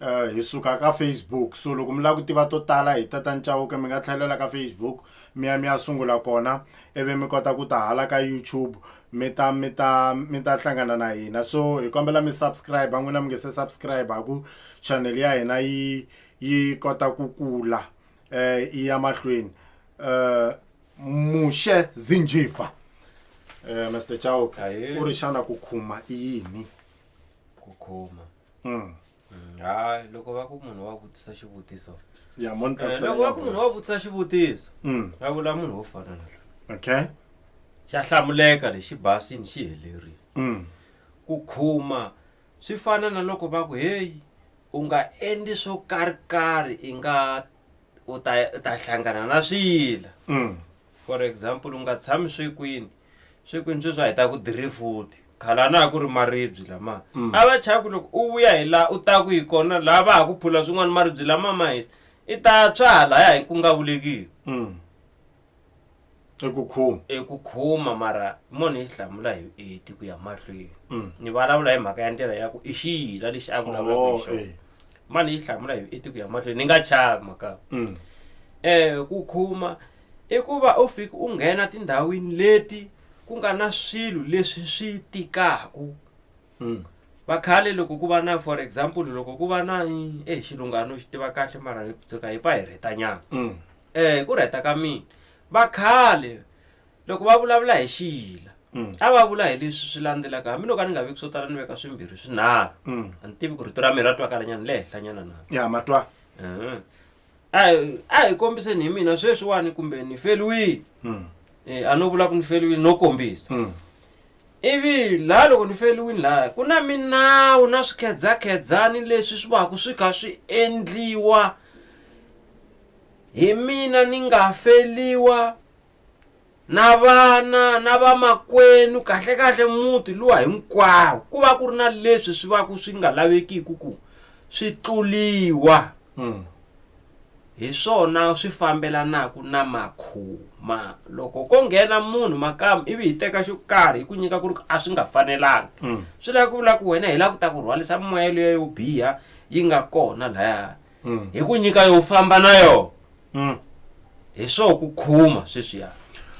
hi suka ka Facebook so loko mi lava ku tiva to tala hi tata ni chauke mi nga tlhelela ka Facebook mi ya mi ya sungula kona ivi mi kota ku ta hala ka YouTube mi ta mi ta mi ta hlangana na hina so hi kombela mi subscribe n'wina mi nge se subscribe ku channel ya hina yi yi kota ku kula eh yi ya mahlweni eh mushe zinjifa eh Mr Chauke u ri xana ku khuma i yini ku khuma Mm. Mm, hayi loko va ku munhu wa vutisa xivutiso ya mo ni Eh, hlamusela loko va ya ku munhu wa voice. vutisa xivutiso Mm, va vula munhu wo fana na loyi okay xa hlamuleka lexi basini xi helerile Mm, ku khuma swi fana na loko va ku heyi u nga endli swo karhikarhi i nga u ta u ta hlangana na swiyila mm, for example u nga tshami swekwini swekwini sweswi a hi ta ku dirifuti khale a na ha ku ri maribyi lama mm. a va chaya ku loko u vuya hi laha u ta ku hi kona laha va ha ku phula swin'wana maribyi lama ma hisa i ta tswa halaya hi ku nga vulekiki mm. eku khuma eku khuma mara munhu yi hlamula hi vueti ku ya mahlweni mm. ni vulavula hi mhaka ya ndlela ya ku i xiyila lexi a vulavulaka hi oh, xona eh. mani yi hlamula hi vueti ku ya mahlweni ni nga chava mhaka um ku khuma I ku va u fika u nghena tindhawini leti ku nga na swilo leswi swi tikaku mm. vakhale loko ku va na for example loko ku va na e xilungano xi tiva kahle mara hi tshuka hi pa hi rhetanyana um mm. eh, ku rheta ka mina vakhale loko va vulavula hi xiyila mm. a va vula hi leswi swi landzelaka hambiloko a ni nga veki swo tala ni veka swimbirhi swinharhu mm. a ni tivi ku rito ra mina ra twakalanyana le henhlanyana na ya matwa a hi- a hi kombiseni hi mina sweswiwani kumbe ni feliwile Mm. Eh, a no vula ku ni feliwile no kombisa Mm. ivi laha loko ni feliwile laha ku na minawu na swikhedzakhedzani leswi swi vaku swi kha swi endliwa hi mina ni nga feliwa na vana na vamakwenu kahlekahle muti luwa hinkwawo ku va ku ri na leswi swi va ku swi nga lavekiki ku swi tluliwa mm. hi swona swi fambelanaka na makhuma loko ko nghena munhu makama ivi hi teka xo karhi hi ku nyika ku ri a swi nga fanelanga mm. swi lava ku vula ku wena hi lava ku ta ku rhwalisa moya leyo yo biha yi nga kona lahaya Mm. hi ku nyika yo famba na yona Mm. hi swo ku khuma sweswiya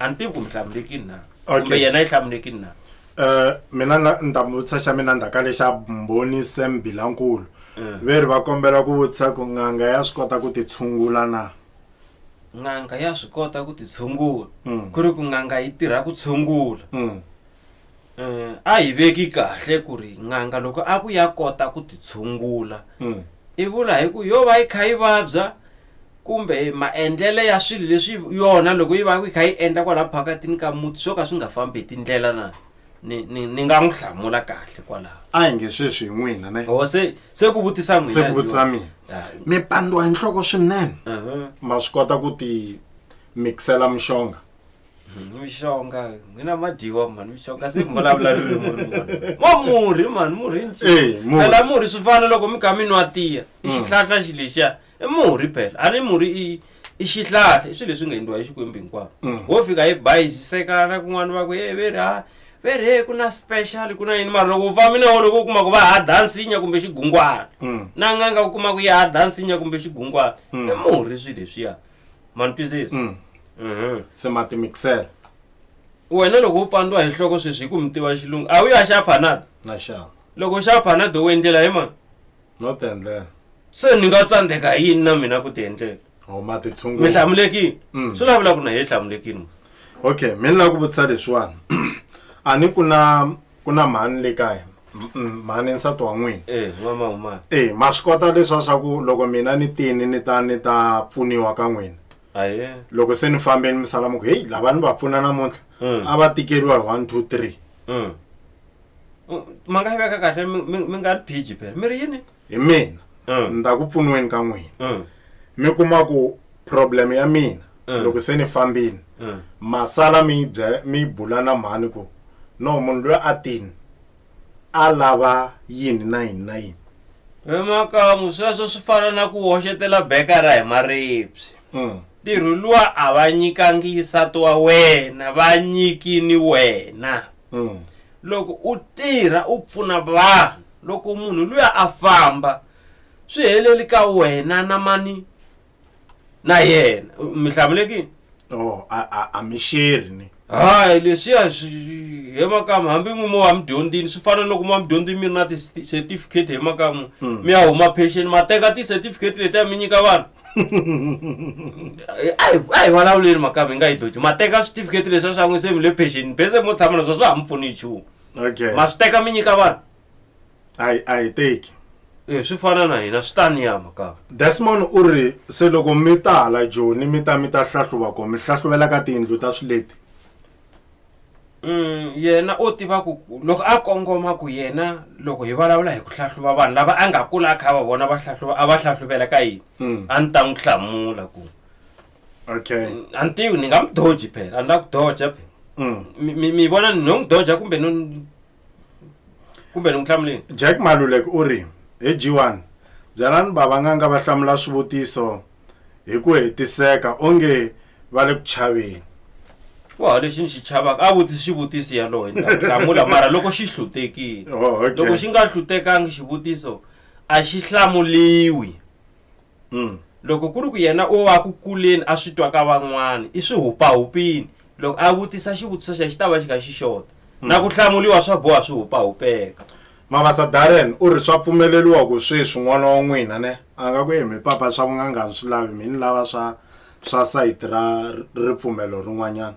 a ni tivi ku mi hlamulekini na Okay. kumbe yena yi hlamulekini na Eh, mina na- ni ta mi vutisa xa mina ndzhaka lexa mbhoni sam bilankulu Mm. ve ri va kombela ku vutisa ku n'anga ya swi kota ku ti tshungula na n'anga ya swi kota ku ti tshungula Mm. ku ri ku n'anga yi tirha ku tshungula Mm. eh, a hi veki kahle ku ri n'anga loko a ku ya kota ku titshungula Mm. i vula hi ku yo va yi kha yi vabya kumbe maendlele ya swilo leswi yona loko yi va yi kha yi endla kwalaho phakatini ka muti swo ka swi nga fambi hi tindlela na ni, ni, ni nga n'wi hlamula kahle kwalaho a hi nge sweswi hi n'wina ne o se se ku vutisa n'wina se ku vutisa mina Ah, mi pandiwa hi nhloko swinene aha. ma swi kota ku ti mixela mixonga mishonga n'wina ma dyiwa mhani mishonga se mi vulavula ririmi rin'wana wa murhi mhani murhi nci Eh, murhi. phela murhi swi fana loko mi kha mi nwa tiya i xihlahla xi lexiya i murhi phela a ni murhi i i xihlahla i swilo leswi nga endliwa hi xikwembu hinkwavo Mm. wo fika hi bayizisekana kun'wana va ku e veri ha veri he ku na special ku na yini mara loko u fambi na wo loko u kuma ku va ha dansinya kumbe xigungwana Mm. na n'anga u kuma ku ya ha dansinya kumbe xigungwana i murhi swilo leswiya ma ni twisisa Mm. Mhm. se ma timixela wena loko u pandiwa hi nhloko sweswi hi ku mi tiva xilungu a wu ya xa panada na xava loko u xa panada u endlela hi mani no ti endlela se ni nga tsandzeka hi yini na mina ku ti endlela or ma ti mi tshungula hlamulekile Mm. swi lavula ku na hi hlamulekile mos okay mi ni lava ku vutisa leswiwani a ni ku na ku na mhani le kaya M- m- mhani nsati wa n'wina Eh, n'wama huma. e ma swi kota leswa swa ku loko mina ni tini ni ta ni ta pfuniwa ka n'wina Aye. loko se ni fambeni mi sala mi ku heyi lava ni va pfuna namuntlha Mm. a va tikeriwa hi one two three Mm. U- Ma nga yi veka kahle mi- mi mi nga ri phiji phela. Mi ri yini? hi mina Mm. ni ta ku pfuniweni ka n'wina Mm. mi kuma ku problem ya mina Mm. loko se ni fambini Mm. masala mi bya mi bula na mhani ku no munhu loyi a tini a lava yini na yini na yini vemakamu sweswo swi fana na ku hoxetela bekara hi maribye Mm. ntirho luwa a va nyikangisa twa wena va nyikini wena mm. loko u tirha u pfuna vanhu loko munhu luya a famba swi heleli ka wena na mani na yena mi hlamulekini oh, a mi sheri ni hayi leswiya he makamu hambi n'wi mo wa midyondzini swi fana loko mo wa midyondzini mi ri na ti-certificate he makamu hmm. mi ya huma pension ma teka ti-certificate letiya mi nyika vanhu a hi vulavuleni makami hi nga yi doji ma teka switifiketi leswi a swi an'wise mi le phenxeni bese mo tshama naswo swa ha mi pfuni hi nchumu okay ma swi teka mi nyika vanhu a yi a yi teki e swi fana na hina swi ta ni ya makami desmond u ri se loko mi ta hala joni mi ta mi ta hlahluva kona mi hlahluvela ka tiyindlu ta swileti Mm, yena o tiva ku ku- loko a kongoma ku yena loko hi vulavula hi ku hlahluva vanhu lava a nga kula a kha a va vona va hlahluva a va hlahluvela ka yini Mm. a ni ta n'wi hlamula ku okay a ni tivi ni nga n'wi doji phela a ni la ku doja phela Mm. mi mi- mi vona ni no n'wi doja kumbe no ni kumbe ni n'wi hlamuleni jack malulek u ri hi g1 byalani vavanganga va hlamula swivutiso hi ku hetiseka onge va le ku chaveni wa lexi ni xi chavaka a vutisi xivutiso yaloye hlamula mara loko xi hlutekile oh, loko xi nga hlutekangi xivutiso a xi hlamuliwi mm. loko ku ri ku yena o wa ku kuleni a swi twa ka van'wana i swi hupahupini loko a vutisa xivutiso xa xi ta va xi kha xi xota mm. na ku hlamuriwa swa boha swi hupahupeka mavasa darren u ri swa pfumeleriwa ku sweswi n'wana wa n'wina ne a nga ku yemi papa swa vunganga ni swi lavi mi ni lava swa swa sayiti ra ripfumelo rin'wanyana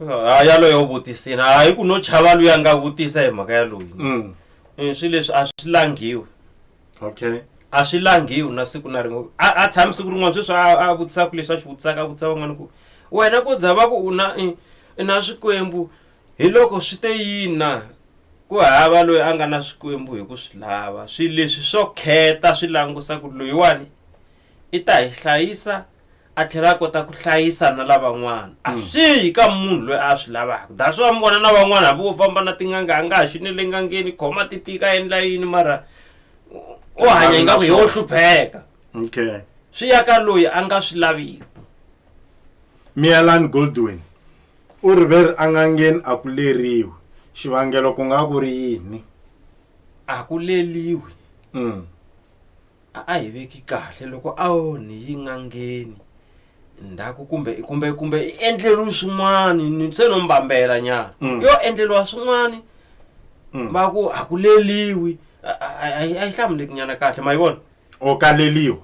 ha yaloye u vutisini hayi ku no chava loyi a nga vutisa hi mhaka yaloyi mm. eh, swilo leswi a swi langhiwi okay a swi langhiwi na siku na rin'we a a tshami siku rin'wana sweswi a a vutisaka leswi a swi vutisaka a vutisa van'wana ku wena ku za va ku u na i- i na swikwembu hi loko swi te yini na ku hava loyi a nga na swikwembu hi ku swi lava swi leswi swo kheta swi langusa ku loyiwani i ta hi hlayisa a tlhela a kota ku hlayisa na lavan'wana a mm. swi yi ka munhu loyi a swi lavaka that's why mi vona na van'wana hambi wo famba na tin'anga a nga ha xini le ngangeni khoma ti tika endla yini mara u hanya yi nga ku yo hlupheka okay swi ya ka loyi a nga swi laviki mialan goldwin u ri ve ri angangeni a ku leriwi xivangelo ku nga ku ri yini a ku leliwi mm. a a hi veki kahle loko a ho ni yi n'angeni ndzhaku kumbe kumbe kumbe i endleriwe swin'wani ni se no mbambela nyana Mm. yo endleriwa swin'wani Mm. va ku a ku leliwi a a- a- a yi a yi hlamuleki nyana kahle ma yi vona o kaleliwa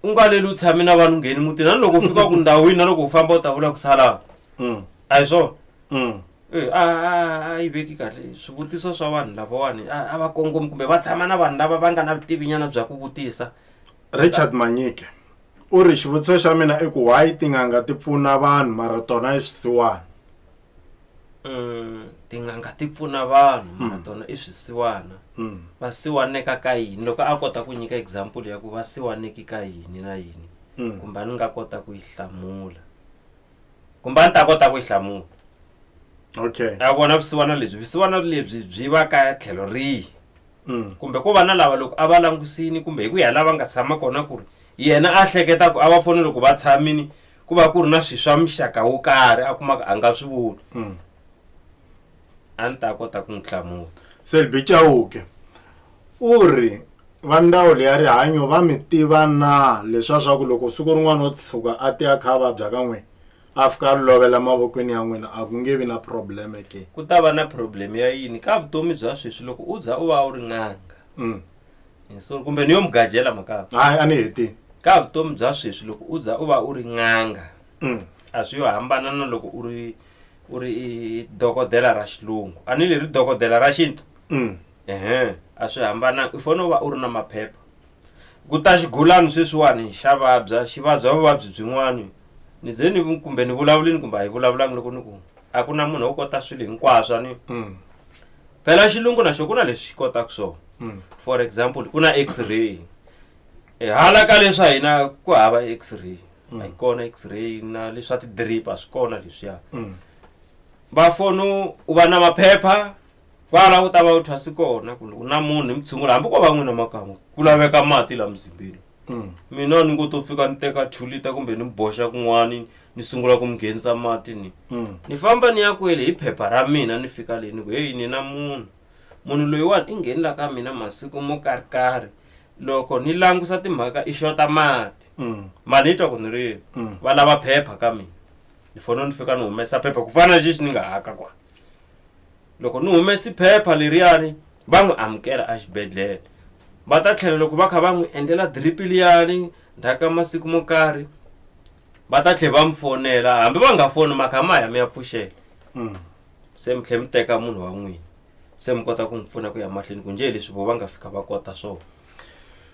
u nga leli u tshame na vanhu ngheni mutini na loko u fika ku ndhawini na loko u famba u ta vula ku salava Mm, a hi swona mm, Eh, a a- a yi veki kahle swivutiso swa vanhu lavawani a a va kongomi kumbe va tshama na vanhu lava va nga na vutivinyana bya ku vutisa richard manyike u ri xivutiso xa mina i ku why tin'anga ti pfuna vanhu mara tona i swisiwana Mm, tin'anga ti pfuna vanhu mara tona i swisiwana Mm. va siwaneka ka yini loko a kota ku nyika example ya ku va siwaneki ka yini na yini Mm. kumbe a ni nga kota ku yi hlamula kumbe a ni ta kota ku yi hlamula okay a vona vusiwana lebyi vusiwana lebyi byi va ka tlhelo rihi mm. kumbe ko va na lava loko a va langusini kumbe hi ku ya lava nga tshama kona ku ri yena a hleketa ku a va foni loko va tshamini ku va ku ri na swilo swa muxaka wo karhi a kumaka a nga swi voni mm. a ni ta kota ku n'wi hlamula selbi chauke u ri va ndzawulo ya rihanyo va mi tiva na leswa swa ku loko siku rin'wana o tshuka a ti a kha a vabya ka n'wina a fika a lovela mavokweni ya n'wina a ku nge vi na probleme ke ku ta va na problem ya yini ka vutomi bya sweswi loko u za u va u ri n'anga Mm. Hi sorry, kumbe ni yo mugajela makava hayi a ni hetini ka vutomi bya sweswi loko u za u va u ri n'anga Mm. a swi yo hambana na loko u ri u ri i dokodela ra xilungu a ni leri dokodela ra xintu mm. ehe a swi hambananga u fanele u va u ri na maphepha ku ta xigulani sweswiwani xa vabya xi vabya vuvabyi byin'wani ni ze ni kumbe ni vulavulini kumbe a hi vulavulanga loko ni ku a ku na munhu wo kota swilo hinkwaswo ni mm. phela xilungu na xo ku na leswi xi kotaka swona mm. for example ku na x-ray e hala ka leswi a hina ku hava x-ray a yi kona x-ray na leswa ti-drip a swi kona leswiya va fono u va na maphepha kwala u ta va u thwasi kona ku u na munhu hi mutshungula hambi ko va n'wina makan'we ku laveka mati laha muzimbeni mina ni ngo to fika ni teka two liter kumbe ni mi boxa kun'wani ni sungula ku mi nghenisa mati ni ni famba ni ya kwele hi phepha ra mina ni fika le ni ku heyi ni na munhu munhu loyiwani i nghenela ka mina masiku mo karhikarhi loko ni langusa timhaka i xota mati mani yi twa ku ni ri va lava phepha ka mina ni fanele ni fika ni humesa phepha ku fana na xexi ni nga haka kwa loko ni humesi phepha leriyani va n'wi amukela exibedhlele va ta tlhela loko va kha va n'wi endlela drip liyani ndzhaku ka masiku mo karhi va ta tlhela va mi fonela hambi va nga foni mhaka ma ya mi ya pfuxela se mi tlhela mi teka munhu wa n'wina se mi kota ku n'wi pfuna ku ya mahlweni ku njhe leswi vo va nga fika va kota swona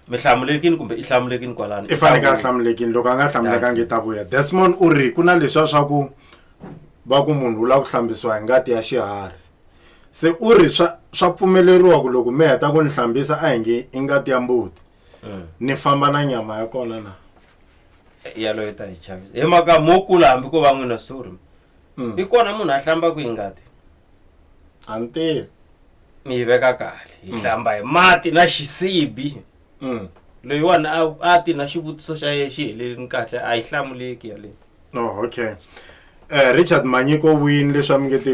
mi hlamulekini kumbe i hlamulekini kwalani i faneke a hlamulekini loko a nga hlamulekangi ta vuya desmond u ri ku na leswiya swa ku va ku munhu u lava ku hlambisiwa hi ngati ya xiharhi se u ri swa swa pfumeleriwa ku loko mi heta ku ni hlambisa a hi nge i ngati ya mbuti mm. ni famba na nyama ya kona na eh, yaloyo ta hi chavisa hi maka mo kula hambi ko va n'wina suri mm. i kona munhu a hlambaka hi ngati a ni tivi ni yi veka kahle hi hlamba hi mati na xisibi Mm. loyiwani a- a ti na xivutiso xa ye xi helelini kahle a yi hlamuleki yaleyo oh okay eh richard manyiko wini leswi a mi nge ti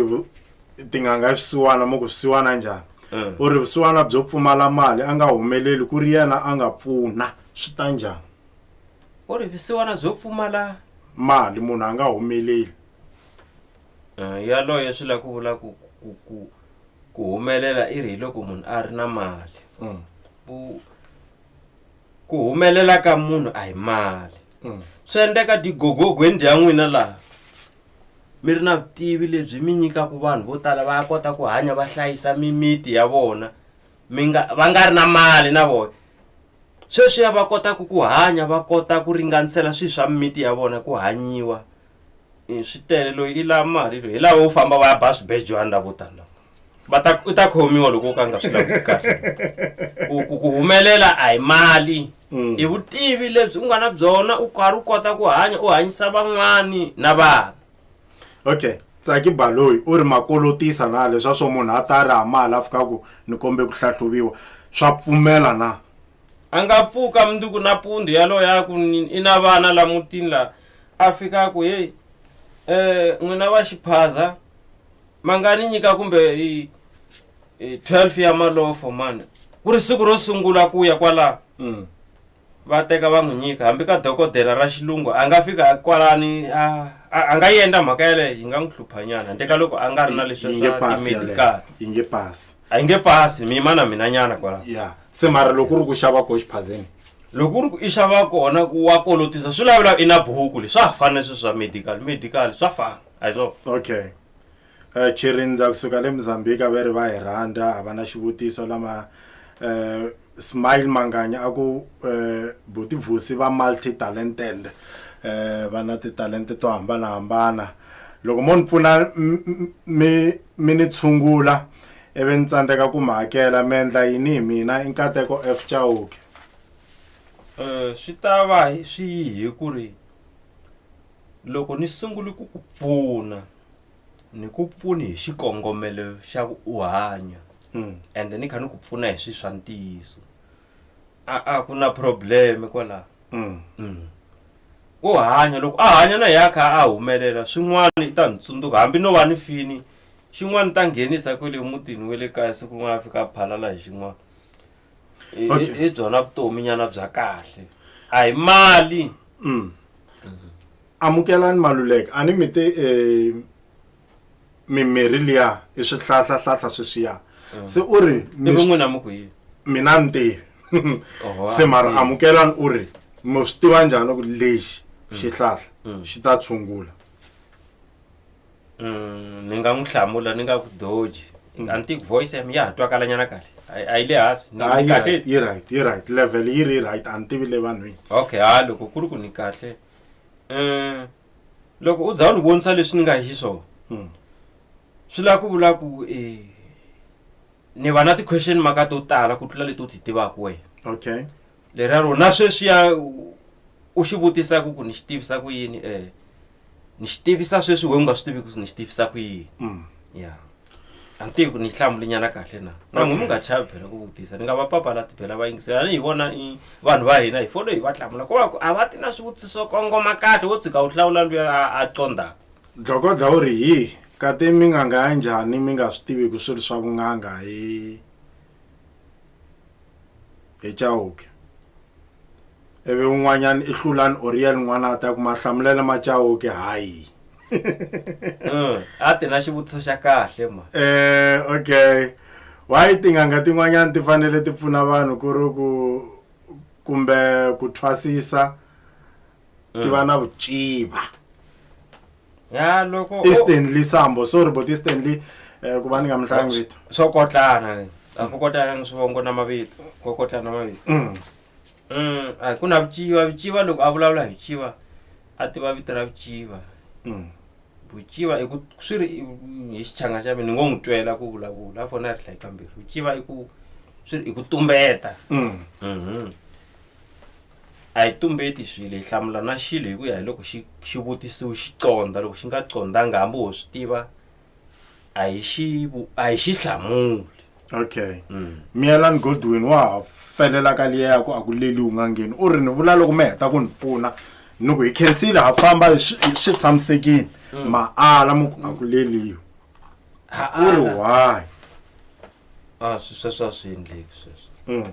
tin'anga swisiwana mo ku swisiwana njhani Mm. u ri vusiwana byo pfumala mali a nga humeleli ku ri yena a nga pfuna swi ta njhani u ri visiwana byo pfumala mali munhu a nga humeleli Eh, yaloye swi la ku vula ku ku ku ku humelela i ri hi loko munhu a ri na mali Mm. ku ku humelela ka munhu a hi mali Mm. swi endleka digogogweni dya n'wina laha mi ri na vutivi lebyi mi nyikaka vanhu vo tala va kota ku hanya va hlayisa mimiti ya vona mi nga va nga ri na mali na vona sweswiya va kotaka ku hanya va kota ku ringanisela swilo swa mimiti ya vona ku hanyiwa i swi tele loyi i la mali loyi hi laha wo famba va ya ba swibejwana la vo tani lava va ta u ta khomiwa loko u ka nga swi lavisi kahle ku ku ku humelela a hi mali Mm. i vutivi lebyi u nga na byona u karhi u kota ku hanya u hanyisa van'wani na vana okay tsaki baloyi u ri makolotisa na leswa swo munhu a ta ri hamala a fika ku ni kombe ku hlahluviwa swa pfumela na a nga pfuka mundzuku nampundzu yaloyo ya ku ni- i na vana la mutini la A fika a ku, Heyi, eh, n'wina va xiphaza, ma nga ni nyika kumbe hi, hi 12 ya malofo mani, ku ri siku ro sungula ku ya kwalaho. Mm. va teka va n'wi nyika hambi ka dokodela ra xilungu a nga fika a kwalani a a- a nga yi endla mhaka yaleyo yi nga n'wi hluphanyana handle ka loko a nga ri na leswi Yi nge swa pasi yaleyo. ti-medical Yi nge pasi. a yi nge pasi mi yima na mina nyana kwala ya se mara loko u ri ku xava ko xiphazeni loko u ri ku i xava kona ku wa kolotisa swi lavela i na buku leswi swa ha fana leswi swa medical medical swa fana a hi swona okay um chirindza kusuka le mozambique a ve ri va hi rhandza a va na xivutiso lama um Smile Manganya a ku buti Vusi va multi talented va na titalente to hambanahambana loko mo ni pfuna mi mi ni tshungula ivi ni tsandzeka ku mi hakela mi endla yini hi mina i nkateko F Chauke swi ta va swi hi ku ri loko ni sungule ku ku pfuna. ni ku pfuni hi xikongomelo xa ku u hanya mm. and ni kha ni ku pfuna hi swi swa ntiyiso a a ku na probleme kwalaho mm. mm. u hanya loko a hanya na ya kha a humelela swin'wana i ta ni tsundzuka hambi no va ni fini xin'wana ta nghenisa kwele emutini wa le kaya siku rin'wana a fika a phalala hi xin'wana I- Okay. i- i byona vutomi nyana bya kahle a hi mali Mm. amukelani maluleka a ni mi te eh, mimirhi liya i swihlahlahlahla sweswiya se u ri ivi mi swi- n'wina mi ku yini mina ni tivi Oho, se mara a- amukelani u ri mi swi tiva njhani ku lexi xihlahla xi ta tshungula Mm, ni nga n'wi hlamula ni nga ku doji mm. anti voice yam ya ha twakala nyana kahle a yi le hansi ah, kahle yi right yi right level yi ri right a ni tivi le vanhwini okay ha loko ku ri ku ni kahle um loko u za u ni vonisa leswi ni nga hi swona mm. swi lava ku vula ku e ni va na ti-question maka to tala ku tlula leti u ti tivaka wena okay leriya ro na sweswiya u xi vutisa ku ku ni xi tivisa ku yini um ni xi tivisa sweswi we u nga swi tivi ku ni xi tivisa ku yini mm. ya a ni tivi ku ni yi hlambulinyana kahle na na n'wi mi nga chavi phela ku vutisa ni nga va papalati phela va yingisela ni hi vona i vanhu va hina hi folo hi va hlamula ko va ku a va ti na swivutiso kongoma kahle wo tshika wu hlawula luya a condzaka dlokodla u ri hi kati mi nga nga ya njhani mi nga swi tivi ku swilo swa vun'anga hi hi chauke ivi un'wanyana i hlulani oriel n'wana a ta ku mahlamulela ma chauke hayi mm, a ti na xivutiso xa kahle ma eh okay why tin'anga tin'wanyana ti fanele ti pfuna vanhu ku ri ku kumbe ku thwasisa ti va mm. na vuciva ya loko i stanley sambo sorry but i stanley um ku va ni nga mi hlangi vito swo kotlana a ku kotlana ni swivongo na mavito ko kotlana na mavito mm. Mm, a ku na vuciva vuciva loko a vulavula hi vuciva a tiva vito ra vuciva mm. vuciva i ku swi ri hi xichanga xa mina ni ngo n'wi twela ku vulavula a fona a ri hlayi kambirhi vuciva i ku swi ri i ku tumbeta mm. mm -hmm. a hi tumbeti swilo hi hlamula na xilo hi ku ya hi loko xi xi vutisiwi xi condza loko xi nga condzanga hambi ho swi tiva a hi xi vu- a hi xi hlamuli okay miyelan godwin wa ha felela ka liya ya ku a ku leli u nga ngheni u ri ni vula loko mi heta ku ni pfuna ni ku hi khensile ha famba hi swi hi swi tshamisekile ma ala mu ku a ku leliwi Ha- u ri ala. why a swi sweswo a swi endleki sweswo Mm.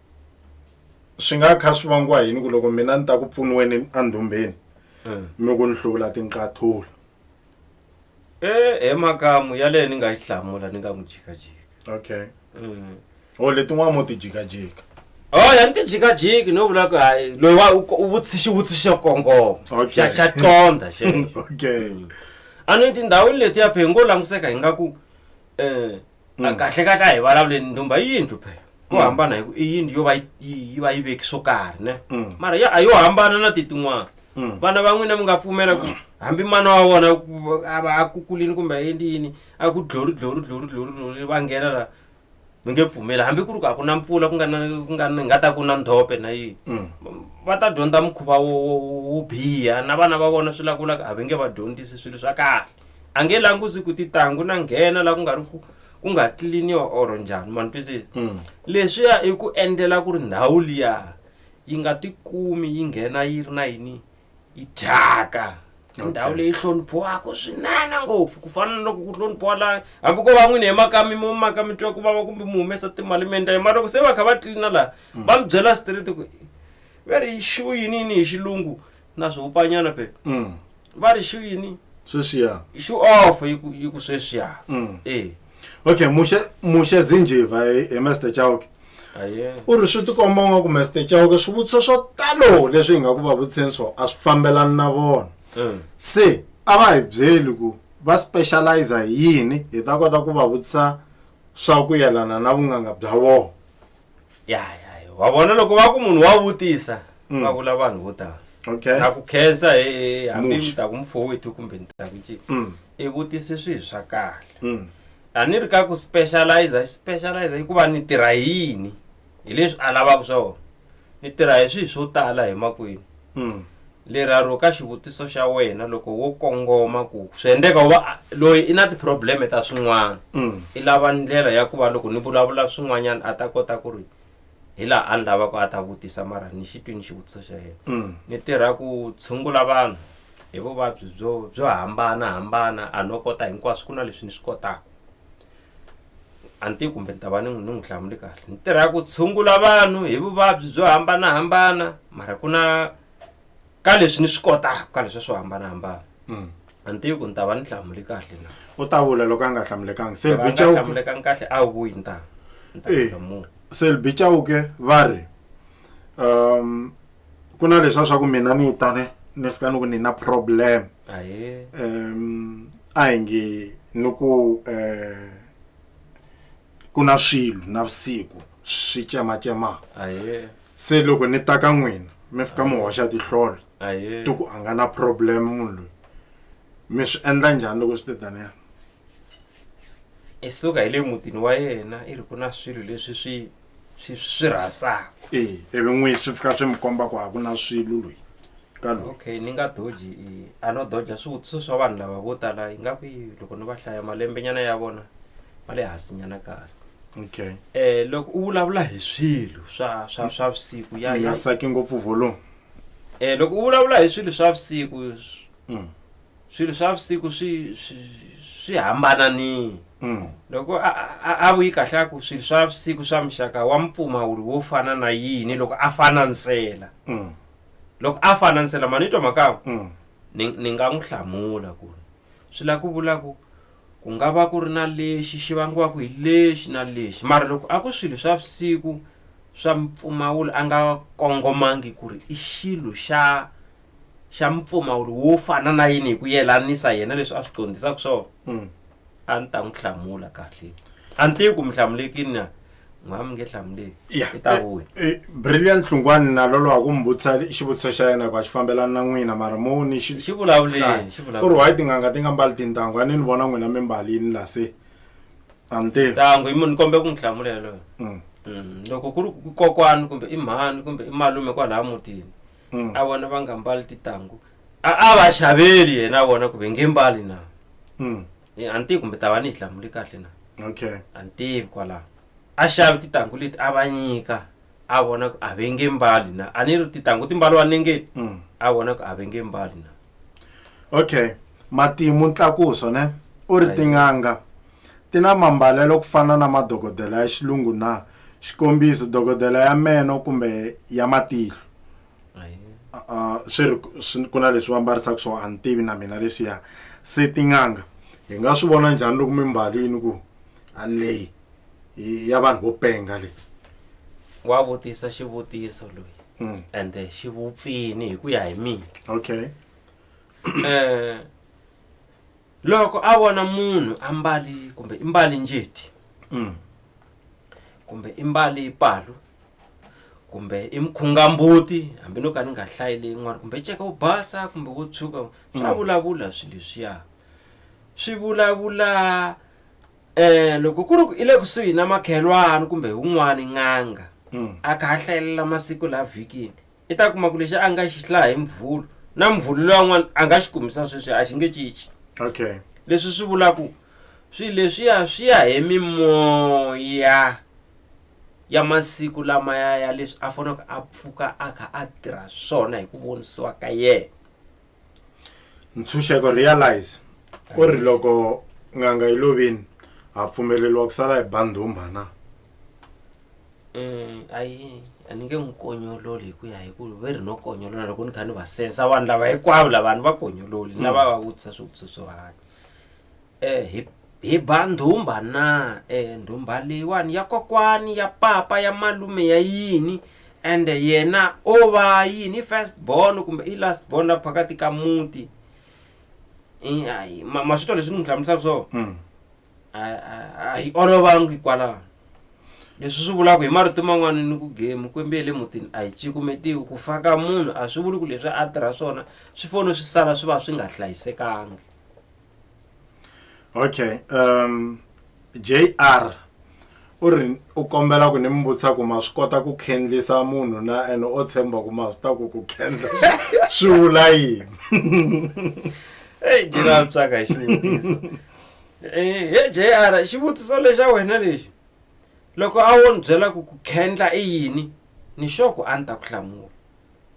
swi nga kha swi vangiwa yini ku loko mina ni ta ku pfuniweni andhumbeni mm. mi ku ni hlula tinqathula eh, e makamu yaleyo ni nga yi hlamula ni nga n'wi jikajika okay mm. o oh, letin'wana mo ti jikajika o oh, ya ni ti jikajiki no vula ku hayi loyi wa u vutisi xivutiso kongoma xa xa qonda xe okay mm. a ni tindhawini leti ya phe ngo languseka hi nga ku um A kahle kahle a hi vulavuleni ndhumba i yindlu phela ku hambana hi ku i yindlu yo va yi- yi yi va yi veki swo karhi ne mara ya a yo hambana na ti tin'wana vana va n'wina mi nga pfumela ku hambi mana wa vona ku- a va a kukulini kumbe a endli yini a ku dlori dlori dlori dlori dlori va nghena la mi nge pfumeli hambi ku ri ku a ku na mpfula ku nga na ku nga na- nga ta ku na ndhope na yini va ta dyondza mukhuva wo wo- wo biha na vana va vona swi lakulaka a va nge va dyondzisi swilo swa kahle a nge languzi ku titangu na nghena la ku nga ri ku ku nga tliliniwa or njhani ma ni twisisa Mm. leswiya i ku endlela ku ri ndhawu liya yi nga tikumi yi nghena yi ri na yini yi thyaka I Okay. ndhawu leyi hloniphiwaka swinene ngopfu ku fana na loko ku hloniphiwa la hambi ko va n'wini hi makami mo maka mi twa ku vava kumbe mi humesa timali mi endla yini mara loko se va kha va tlilina laha va mi byela straight ku ve ri xu yini yini hi xilungu na swihupanyana pe Mm. va ri xu yini Sweswiya. xu off yi ku- yi ku sweswiya Mm. e Okay, Mushe Mushe Zinjiva hi hi Mr. Chauke. aye U ri swi tikomba nga ku Mr. Chauke swivutiso swo talo leswi hi nga ku va vutiseni swona a swi fambelani na vona. Mm. Se a va hi byeli ku va specialize hi yini hi ta kota ku va vutisa swa ku yelana na vun'anga bya vona. ya ya ya. wa vona loko va ku munhu wa vutisa Mm. va vula vanhu vo tala okay ta ku khensa he hambi Muxa. mi ta ku mufowethu kumbe ni ta ku ncini Mm, i vutise swilo swa kahle mm, a ni ri ka ku specialize specialize hikuva ni tirha hi yini hi leswi a lavaka swona ni tirha hi swilo swo tala emakwenu leraro ka xivutiso xa wena loko wo kongoma ku swi endeka u va loyi i na ti-probleme ta swin'wana i lava ndlela ya ku va loko ni vulavula swin'wanyana a ta kota ku ri hi laha a ni lavaka a ta vutisa mara ni xi twini xivutiso xa yena ni tirha ku tshungula vanhu hi vuvabyi byo byo hambanahambana a no kota hinkwaswo ku na leswi ni swi kotaka a ni tivi kumbe ni ta va ni ni n'wi hlamuli kahle ni tirha ku tshungula vanhu hi vuvabyi byo hambanahambana mara ku na ka leswi ni swi kotaka ka leswi swo hambanahambana mm. a ni tivi ku ni ta va ni hlamuli kahle na u ta vula loko a nga hlamulekangi selbichauhlamulekanga kahle a wu vuyi ni ta ni ta eh, hlamula selbichauke va ri um ku na leswa swa ku mina ni tane ni fika ni ku ni na problem um a hi nge ni ku um ku na swilo na vusiku swi cematsemaku se loko ni ta ka n'wina mi fika mi hoxa tihlolo ti ku a nga na problem munhu loyi mi swi endla njhani loko swi te taniya i suka hi le mutini wa yena i ri ku na swilo leswi swi swi swi rhasaka e ivi n'wi swi fika swi mi komba ku a ku na swilo loyi ka loyi okay ni nga doji i- a no doja swivutiso swa vanhu lava vo tala yi nga ku yi- loko ni va hlaya malembenyana ya vona ma le hansinyana kahle okay um loko u vulavula hi swilo swa swa swa vusiku ya mi nga ya saki ngopfu volume um loko u vulavula hi swilo swa vusiku Mm. swilo swa vusiku swi swi hambana ni mm. loko a vuyi kahle a ku swilo swa vusiku swa muxaka wa mpfumawuri wo fana na yini loko a fana nsela mm. loko a fana nsela mani twa makamu mm. ni nga n'wi hlamula ku ri swi lava ku vula ku ku nga va ku ri na lexi xi vangiwaka hi lexi na lexi mara loko a ku swilo swa vusiku swa mpfumawulo a nga kongomangi ku ri i xilo xa xa mpfumawulo wo fana na yini hi ku yelanisa yena leswi a swi dyondzisaka swona mm. a ni ta n'wi hlamula kahle a ni tivi ku mi hlamulekini na n'wa mi nge hlamuleki i ta vuya eh, eh, brilliant nhlungwani na lolo wa ku mi vutisa xivutiso xa yena ku a xi fambelani na n'wina mara mo ni xi vulavuleni ku ri why tin'anga ti nga mbali tintangu a ni ni vona n'wina mi mbalini la se a ni tivi tangu i munhu ni kombe ku n'wi hlamula yaloyo mm. mm. loko ku ri kokwani kumbe i mhani kumbe i malume kwalaha mutini Mm. a vona va nga mbali titangu a a va xaveli yena a vona ku ve nge mbali na Mm. Eh, a ni tivi kumbe ta va ni yi hlamule kahle na okay a ni tivi kwalaho a xavi titangu leti a va nyika a vona ku a ve nge mbali na a ni ri titangu ti mbaliwa nengeni Mm. a vona ku a ve nge mbali na okay matimu ntlakuso ne u ri Ayi. tin'anga Ti na mambalelo ku fana na madokodela ya xilungu na? Xikombiso, dokodela ya meno kumbe ya matihlo. Uh, swi ri ku na leswi va mbarisaka swona a ni tivi na mina leswiya se tin'anga hi nga swi vona njhani loko mi mbalini ku leyi ya vanhu vo penga leyi wa vutisa xivutiso loyi mm. ende eh, xi vupfini hi ku ya hi mina okay um loko a vona munhu a mbali kumbe i mbali njeti mm. kumbe i mbali palu kumbe i mkhungambuti hambi no ka ni nga hlayile yin'wana kumbe ceka wo basa kumbe wo tshuka swa mm. vulavula swilo leswiya swi vulavula um loko ku ri ku i le kusuhi na makhelwani kumbe wun'wani n'anga mm. a kha a hlayelela masiku laha vhikini I ta kuma ku lexi a nga xi hlaha hi mvhulu na mvhulu loyi an'wana a nga xi kumisa sweswi a xi nge cinci okay leswi swi vula ku swilo leswiya swi ya hi mimoya ya masiku lama ya ya leswi a faneleke a pfuka a kha a tirha swona hi ku vonisiwa ka yena ntshunxeko realize u ri loko n'anga yi lovini ha pfumeleriwa ku sala hi bandhumba na um ayi a ni nge n'wi konyololi hi ku ya hi ku ve ri no konyolola loko ni kha ni va sensa vanhu lava hinkwavo lavanhu va konyololi na va va vutisa swivutiso swo hanya Eh, hi, hi ba ndhumba na eh, ndhumba leyiwani ya kokwani ya papa ya malume ya yini and yena o va yini i first born kumbe i last born la phakati ka muti I- ayi, ma- maswito leswi ni n'wi hlamusaka swona Mm. a- a- a hi olovangi kwalaho leswi swi vulaka hi marito man'wana ni ku gemu kwembi ya le mutini a yi cikumetiwi ku faka munhu a swi vuli ku leswi a tirha swona swi fone swi sala swi va swi nga hlayisekangi okay um jr u ri u kombela ku ni mi vutisa ku ma swi kota ku khendlisa munhu na ene o tshemba ku ma swi ta ku ku khendla swi vula yini eyi jina psaka hi xivutiso Eh, he jr xivutiso lexa wena lexi loko a wo ni byela ku ku khendla i yini ni xoku a ni ta ku hlamula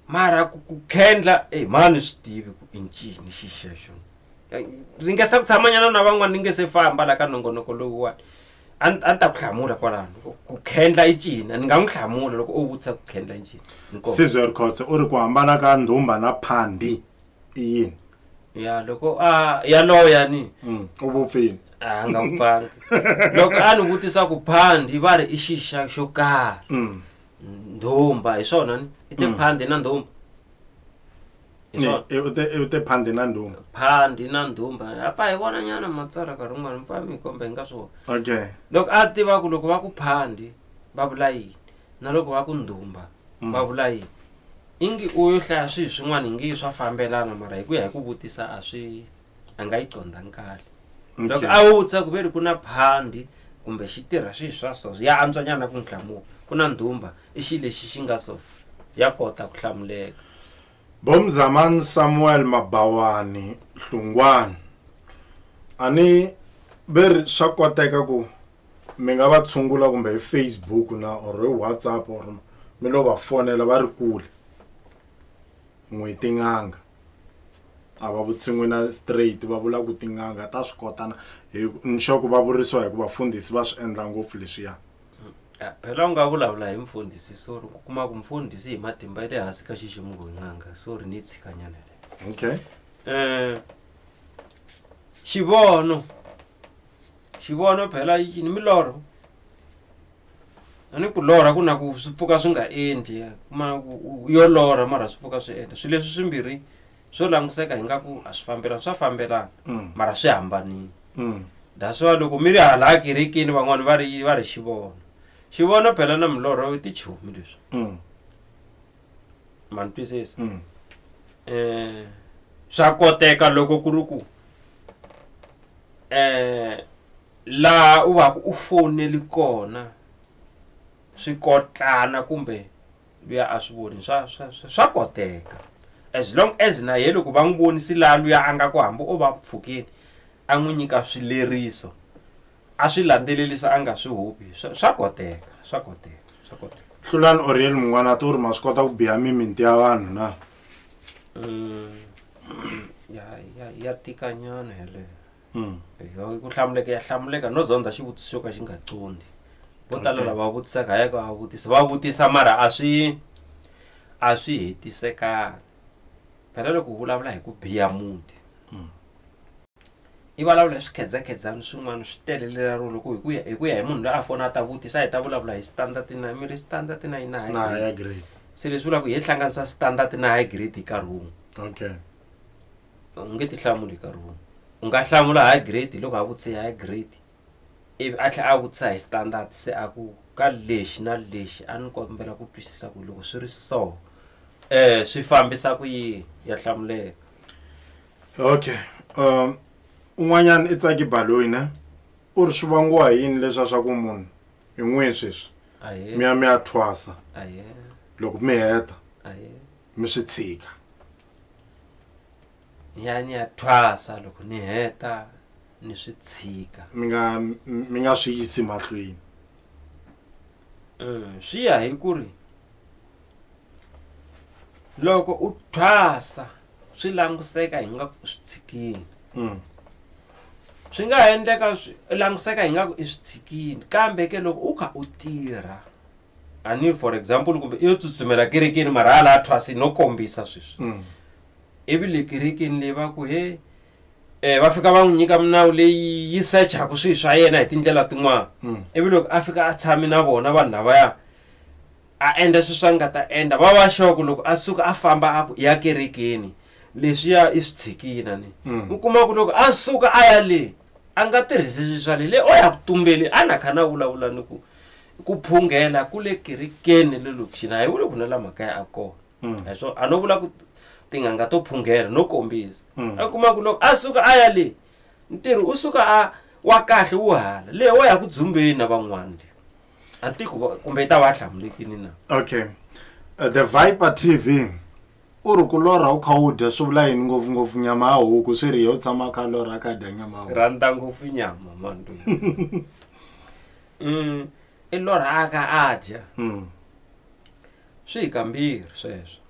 mara ku ku khendla e mani swi tivi ku i ncini xi xexo ri nge se ku tshamanyana na van'wana ni nge se famba la ka nongonoko lowuwani a ni ta ku hlamula kwalano ku khendla i cina ni nga n'wi hlamula loko u vutisa ku khendla i cina sizwe rikhotse u ri ku hambana ka ndhumba na phandi i yini ya loko a ya loya ni mm, u vupfile a nga vupfanga loko a ni vutisa ku phandi va ri i xixa xo karhi mm. ndhumba hi swona ni i tiphandi na ndhumba hi Ni- swona i- u te- u te phandi na ndhuma phandi na ndhumba a pfa hi vona nyana matsala nkarhi wun'wana mi pfa mi hi komba hi nga swi vona okay loko a tiva ku loko va ku phandi va vula yini na loko va ku ndhumba va vula yini ingi u yo hlaya swihi swin'wana hi ngi swa fambelana mara hi ku ya hi ku vutisa a swi a nga yi condza nkali loko a wu tsa ku ve ri ku na phandi kumbe xi tirha swihi swa so ya antswanyana ku n'wi hlamuka ku na ndhumba i xi lexi xi nga so ya kota ku hlamuleka bomzamani samuel mabawani hlungwani a ni ve ri swa koteka ku mi nga va tshungula kumbe hi facebook na or hi whatsapp or mi lo va fonela va ri kule n'wi tin'anga a va vutsin'wi na straight va vula ku tin'anga ta swi kota na hi nxoko va vurisiwa hi ku vafundhisi va swi endla ngopfu leswiya eh, phela u nga vulavula hi mfundhisi sorry ku kuma ku mfundhisi hi matimba ya le hansi ka xiximuko hi n'anga sorry ni tshikanyana okay um xivono xivono phela yi ni milorho a ni ku lorha ku na ku swi pfuka swi nga endli kuma ku yo lorha mara swi pfuka swi endla swilo leswi swimbirhi swo languseka hi nga ku a swi fambelani swa fambelana mm. mara swi hambanile mm. that's why loko mi ri hala akerekini van'wani va ri va ri xivono xivono phela na milorho i tichomi leswi mm. ma ni twisisa Mm. eh swa koteka loko ku ri ku eh laha u va ku u foneli kona swi kotlana kumbe luya a swi voni swa swa swa- swa koteka as long as na ye loko va n'wi vonisi laha luya a nga ku hambi o va pfukeni a n'wi nyika swileriso a swi landzelelisa a nga swi hubi swa swa koteka swa koteka swa koteka hlulani oriel mun'wana ti u ri ma swi kota ku biha miminti ya vanhu na Mm, ya ya ya tika nyana yeleyo Mm. Yo, ku hlamuleka ya hlamuleka no zondza xivutiso xo ka xi nga condi vo tala Okay. lava vutisaka hayaka va vutisa va vutisa mara a swi a swi hetisekanga phela loko u vulavula hi ku biha muti i vulavula hi swikhedzakhedzani swin'wana swi telelela ro loko hi ku ya hi ku ya hi munhu loyi a fona a ta vutisa hi ta vulavula hi standard na mi ri standard na yi na high na grade. higher grade se leswi vulaka ku hi hlanganisa standard na high grade hi nkarhi wun'we okay u nge ti hlamuli hi nkarhi wun'we u nga hlamula high grade loko a vutise high grade ivi a tlhela a vutisa hi standard se a ku ka lexi na lexi a ni kombela ku twisisa ku loko swi ri so um swi fambisa ku yini ya hlamuleka okay um un'wanyana i tsaki baloyi ne u ri swi vangiwa hi yini leswa swa ku munhu hi n'wihi sweswi Ahee. mi ya mi ya thwasa Ahee. loko mi heta Ahee. mi swi tshika ya ni ya thwasa loko ni heta ni swi tshika mi nga mi nga swi yisi mahlweni swi ya hi ku ri loko u thwasa swi languseka hi nga ku swi tshikini mm. swi nga ha endleka swi languseka hi nga ku i swi tshikini kambe ke loko u kha u tirha ani for example kumbe i yo tsutsumela kerekeni mara hala a thwasi no kombisa sweswi mm. ivi le kerekeni leyi va ku he um va fika va n'wi nyika minawu leyi yi sechaku swilo swa yena hi tindlela tin'wana Mm. ivi loko a fika a tshami na vona vanhu lavaya a endla swilo swa nga ta endla va va xoko loko a suka a famba a ku ya kerekeni leswiya i swi tshikina ni Mm. u kuma ku loko a suka a ya le a nga tirhisi swilo swa le le o ya ku tumbeli a na kha na vulavula ni ku ku phungela ku le kerekeni le lokixini a hi vuli ku na la makaya a kona Mm. hi swona a no vula ku tin'anga to phunghela no kombisa Mm. a kuma ku loko a suka a ya le ntirho u suka a wa kahle wu hala leyi wa ya ku dzumbeni na van'wana le a tiko va- kumbe yi ta va a hlamulekini na okay uh, the viper tv u ri ku lorha u kha u dya swi vula yini ngopfungopfu nyama ya huku swi ri ye u tshama a kha a lorha a kha a dya nyama ya huku rhandza ngopfu nyama mantu um i lorhaka a dya Mm. Swi hi kambirhi sweswo.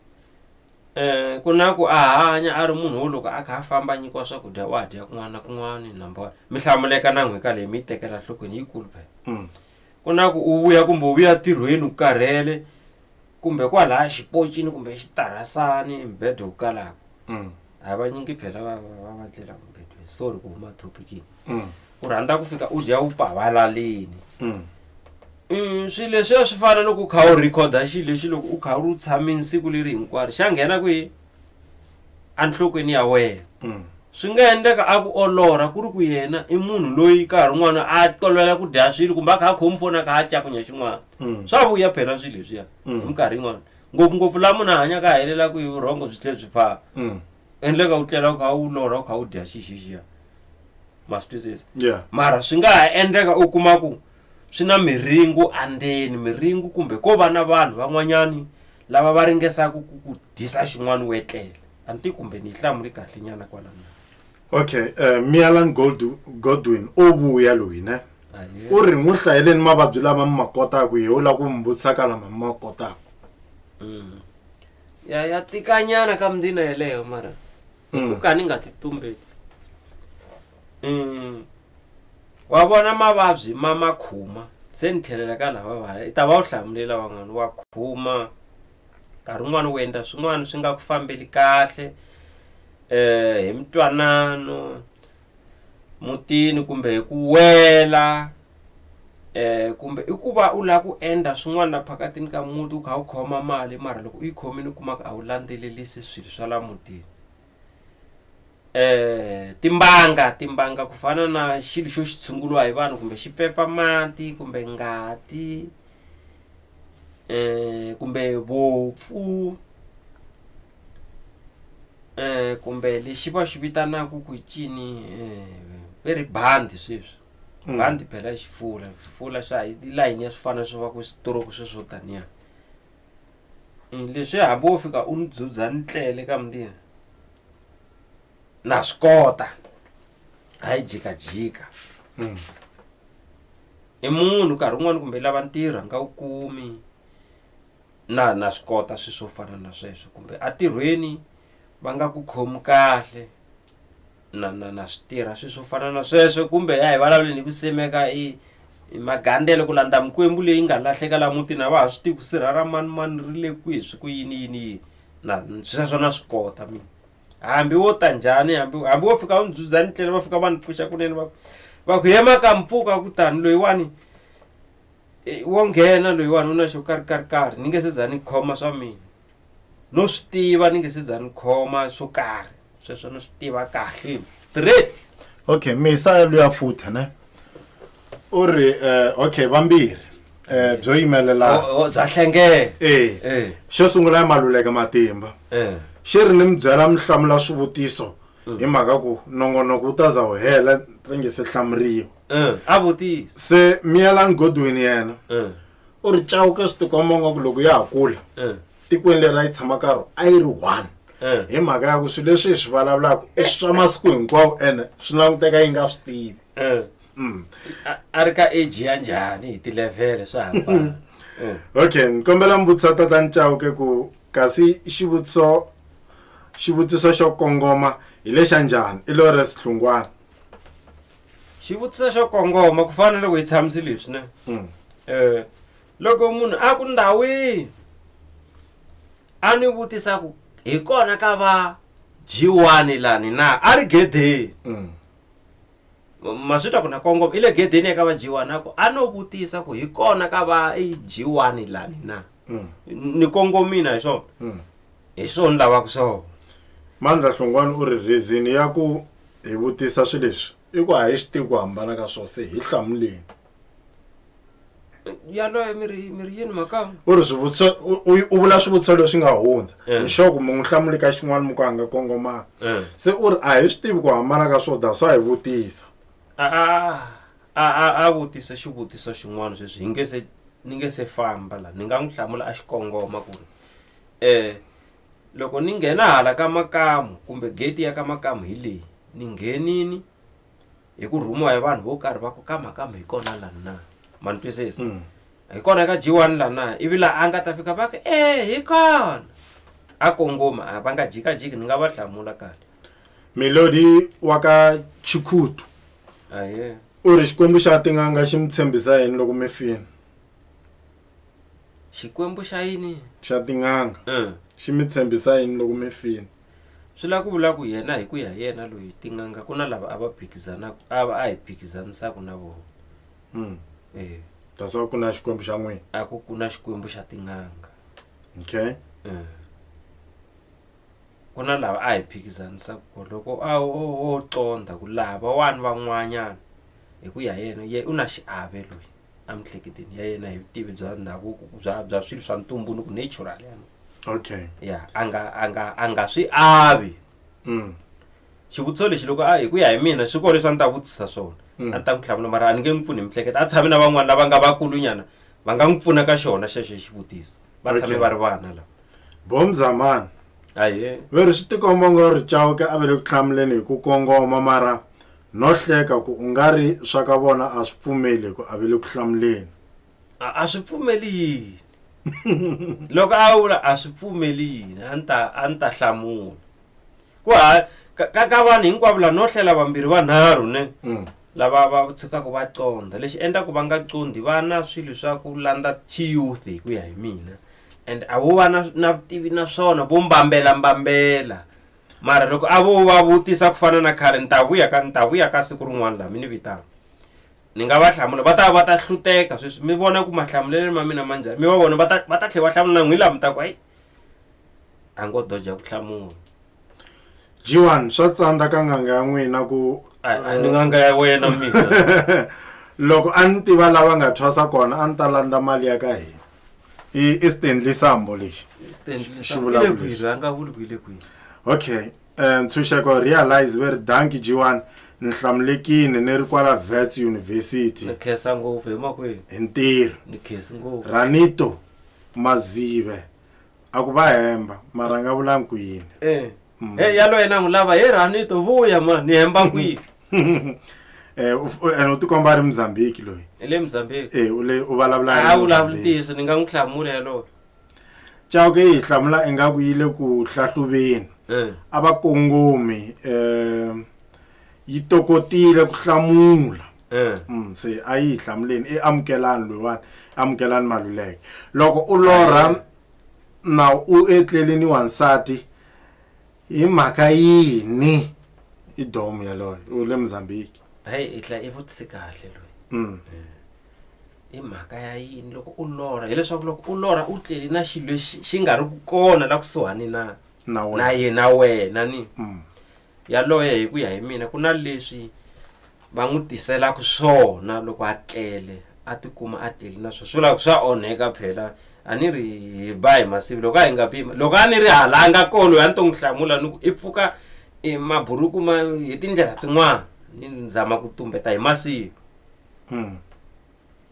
Um ku na ku a hanya a ri munhu wo loko a kha a famba a nyikiwa swakudya wa dya kun'wana na kun'wana number one mi hlamuleka na n'hweka leyi mi yi tekela nhlokweni yikulu phela mm. ku na ku u vuya kumbe u vuya ntirhweni u karhele kumbe kwalaya xipocini kumbe xitarasani mbhedo wu kalaka mm. a va nyingi phela va va va tlela mumbedweni sorry ku huma topikini mm. u rhandza ku fika u dya u pavalalini mm. Mm, swi leswi a swi fana loko u kha u rhikhoda xilo lexi loko u kha u ri tshamini siku leri hinkwaro xa nghena kwihi enhlokweni ya wena mm. swi nga endleka a ku olora ku ri ku yena i munhu loyi nkarhi un'wana a tolovela ku dya swilo kumbe a kha a khomi foni a kha a cakunya xin'wana mm. swa vuya phela swilo leswiya hi minkarhi yin'wana ngopfungopfu laha munhu a hanyaka a helela ku hi vurhongo byi tlhe byi phaa mm. endleka u tlela u kha u lorha u kha u dya xixixiya ma swi twisisa mara swi nga ha endleka u kuma ku swi na miringu andzeni miringu kumbe ko va na vanhu van'wanyani lava va ringesaka ku ku dyisa xin'wana u etlela a ni ti kumbe ni yi hlamuli kahle nyana kwalana okay uh, mialan godwin o vuya loyi ne ah, u ri n'wi hlayeleni mavabyi lama mi ma kotaku ye u la ku mi vutisaka lama mi ma kotaku mm. ya ya tikanyana ka mundina yeleyo mara mm. ku ka ni nga ti tumbeti mm. wa vona mavabyi ma ma khuma se ni tlhelela ka lava vaya i ta va u hlamulela van'wana wa khuma nkarhi wun'wana u endla swin'wana swi nga ku fambeli kahle um hi mintwanano mutini kumbe hi ku wela um kumbe i ku va u lava ku endla swin'wana la phakatini ka muti u kha u khoma mali mara loko u yi khomile u kuma ku a wu landzelelisi swilo swa la mutini um timbanga timbanga ku fana na xilo xo xi tshunguriwa hi vanhu kumbe xi pfepfa mati kumbe ngati um kumbe vopfu um kumbe lexi va xi vitanaka ku cini um ve ri bandi sweswi Mm. bandi phela xifula xifula xa hi layini ya swifana swo va ku stroke sweswo taniya Mm, leswi ya hambi wo fika u ni dzudza ni tlele ka mundini na swi kota a yi jikajika mm. i munhu nkarhi wun'wani kumbe lava ntirho nga wu kumi na na swi kota swi swo fana na sweswo kumbe atirhweni va nga ku khomi kahle na na na swi tirha swilo swo fana na sweswo kumbe ya hi vulavuleni hi ku semeka i magandele ku landza mikwembu leyi nga lahleka laha mutini a va ha swi tivi ku sirha ra mani mani ri le kwihi swi ku yini yini yini na sweswo na swi kota mina hambi wo ta njhani hambi hambi wo fika u ni dzudza ni tlele va fika va ni pfuxa kunene va va ku yema ka mpfuka kutani loyiwani e, wo nghena loyiwani u na xo karhi karhi karhi ni nge se za ni khoma swa mina no swi tiva ni nge se za ni khoma swo karhi sweswo ni swi tiva kahle straight okay misa luya futhi ne u ri eh, okay vambirhi um byo yimelela O- o, bya hlengela e Eh. xo sungula ya maluleke matimba Eh. xi ri ni mi byela mi hlamula swivutiso hi mhaka ku nongonoko wu ta za wu hela ri nge se hlamuriwa Eh, a vutisa se miyelani godwin yena Eh. u ri cawuke swi tikomba nga ku loko ya ha kula eh. tikweni leri a yi tshama ka ro a yi ri one eh. hi mhaka ya ku swilo leswi hi swi vulavulaka i swa masiku hinkwawo ene swi languteka yi nga swi tivi eh. mm. a ri ka age ya njhani hi tilevhele swa hambana mm. okay ni kombela mbutisa tata ni cawuke ku kasi xivutiso xivutiso xo kongoma hi lexa njhani i lore sihlungwana xivutiso xo kongoma ku fana loko hi tshamisi leswi ne um loko munhu a ku ndhawini a ni vutisa ku hi kona ka va jiwani lani na a ri gedeni mm. ma swi twa ku na kongoma i le gedeni eka va jiwani a ku a no vutisa ku hi kona ka va jiwani lani na mm. ni kongomina hi swona mm. hi swona lavaka swona mandla hlongwani u ri reason ya ku hi vutisa swi leswi i ku a hi swi tivi ku hambana ka swona se hi hlamuleni yaloye mi ri mi ri yini makama u ri swivutiso u- u u vula swivutiso leswi nga hundza Eh. hi xoku mi n'wi hlamuli ka xin'wana mi ku a nga kongomanga Eh. se u ri a hi swi tivi ku hambana ka swona that's why hi vutisa a a a a- a vutisa xivutiso xin'wana sweswi hi nge se ni nge se famba la ni nga n'wi hlamula a xi kongoma ku ri Eh, loko ni nghena hala ka makamu kumbe gate ya ka makamu hi leyi ni nghenini hi ku rhumiwa hi vanhu vo karhi va ku ka makamu hi kona lani na ma ni twisisa Mm. hi kona ka jiwani la na ivi la a nga ta fika va ku e hi kona a kongoma a va nga jikajiki ni nga va hlamula kahle melodi wa ka chikhutu aye u ri xikwembu xa tin'anga xi mi tshembisa yini loko mi fini xikwembu xa yini xa tin'anga um xi mi tshembisa yini loko mi file swi lava ku vula ku yena hi ku ya hi yena loyi tin'anga ku na lava a va phikizanaka a va a hi phikizanisaku na vona um e that's why ku na xikwembu xa n'wina a ku ku na xikwembu xa tin'anga okay um ku na lava a hi phikizanisaku ko loko a o o o conda ku lava wani van'wanyana hi ku ya hi yena ye u na xiave loyi emihleketweni ya yena hi vutivi bya ndhavuko bya bya swilo swa ntumbuluko natural yani okay ya a nga a nga a nga swi avi mm. xivutiso lexi loko a hi ku ya hi mina swi kona leswi a ni ta vutisa swona Mm. a ni ta n'wi tlhavula mara a ni nge n'wi pfuni hi mihleketa a tshami na van'wana lava nga vakulunyana va nga n'wi pfuna ka xona xexo xivutiso va tshame Okay. va ri vana lava bom zamani aye veri swi tikomba nga ri chauke a ve le ku hlamuleni hi ku kongoma mara no hleka ku u nga ri swa ka vona a swi pfumeli ku a ve le ku hlamuleni. A a swi pfumeli yini? Loko a vula a swi pfumeli yini a ni ta a ni ta hlamula. Ku ha ka ka ka vanhu hinkwavo la no hlela vambirhi vanharhu ne Mm. lava va tshukaka va condza lexi endlaku va nga condi va na swilo swa ku landza chiyouth hi ku ya hi mina and a vo va na na vutivi na swona vo mbambela mbambela mara loko a vo va vutisa ku fana na khale ni ta vuya ka ni ta vuya ka siku rin'wana laha mi ni vitana ni nga va hlamula va ta va ta hluteka sweswi mi vona ku mahlamuleleni ma mina ma njhani mi va vona va ta va ta tlhela va hlamula n'wi laha mi ta ku hayi a ngo doja ku hlamula jiwani swa tsandza ka nganga ya n'wina ku a ni nganga ya wena mina loko a ni tiva lava nga thwasa kona a ni ta landza mali ya ka hina i i stanley sambo lexi Stanley Xi Sambo. vulavula Ile kwihi? leswi. Rhanga vuli ku ile kwihi? okay um ntshunxeko realize ve ri danki jiwani ni hlamulekini ni ri kwala vets university Ni khensa ngopfu hi makwenu. hi ntirho Ni khensi ngopfu. ranito mazive a ku va hemba mara nga vulangi ku yini Eh. Mm. Hey, yaloye na n'wi lava he ranito vuya mani ni hemba kwihi Eh, u f- u- ene u tikomba a ri muzambiki loyi hi le mozambique e u le u vulavula a vulavuli ntiyiso ni nga n'wi hlamula yalowo chauke yi hi hlamula ingaku yi le ku hlahluveni Eh, a va kongomi um yi tokotile ku hlamula eh. Mm, se a yi hi hlamuleni i amukelani loyiwani amukelani maluleke loko u lorha na u etlelini wansati Hi mhaka yini i domu yaloyo u le Mozambique? Hayi i tla i vutise kahle loyi. Mm. I mhaka ya yini loko u lorha hileswaku loko u lorha u tlele na xilo lexi xi nga ri ku kona la kusuhani na Na wena. na yena wena ni Mm. yaloye hi ku ya hi mina ku na leswi va n'wi tiselaka swona loko a tlele a tikuma a tele na swo swi vula ku swa onheka phela a ni ri hi ba hi masivi loko a hi nga bi loko a ni ri hala a nga kolo a ni to n'wi hlamula ni ku i pfuka i maburuku ma hi tindlela tin'wana ni ni zama ku tumbeta hi masivi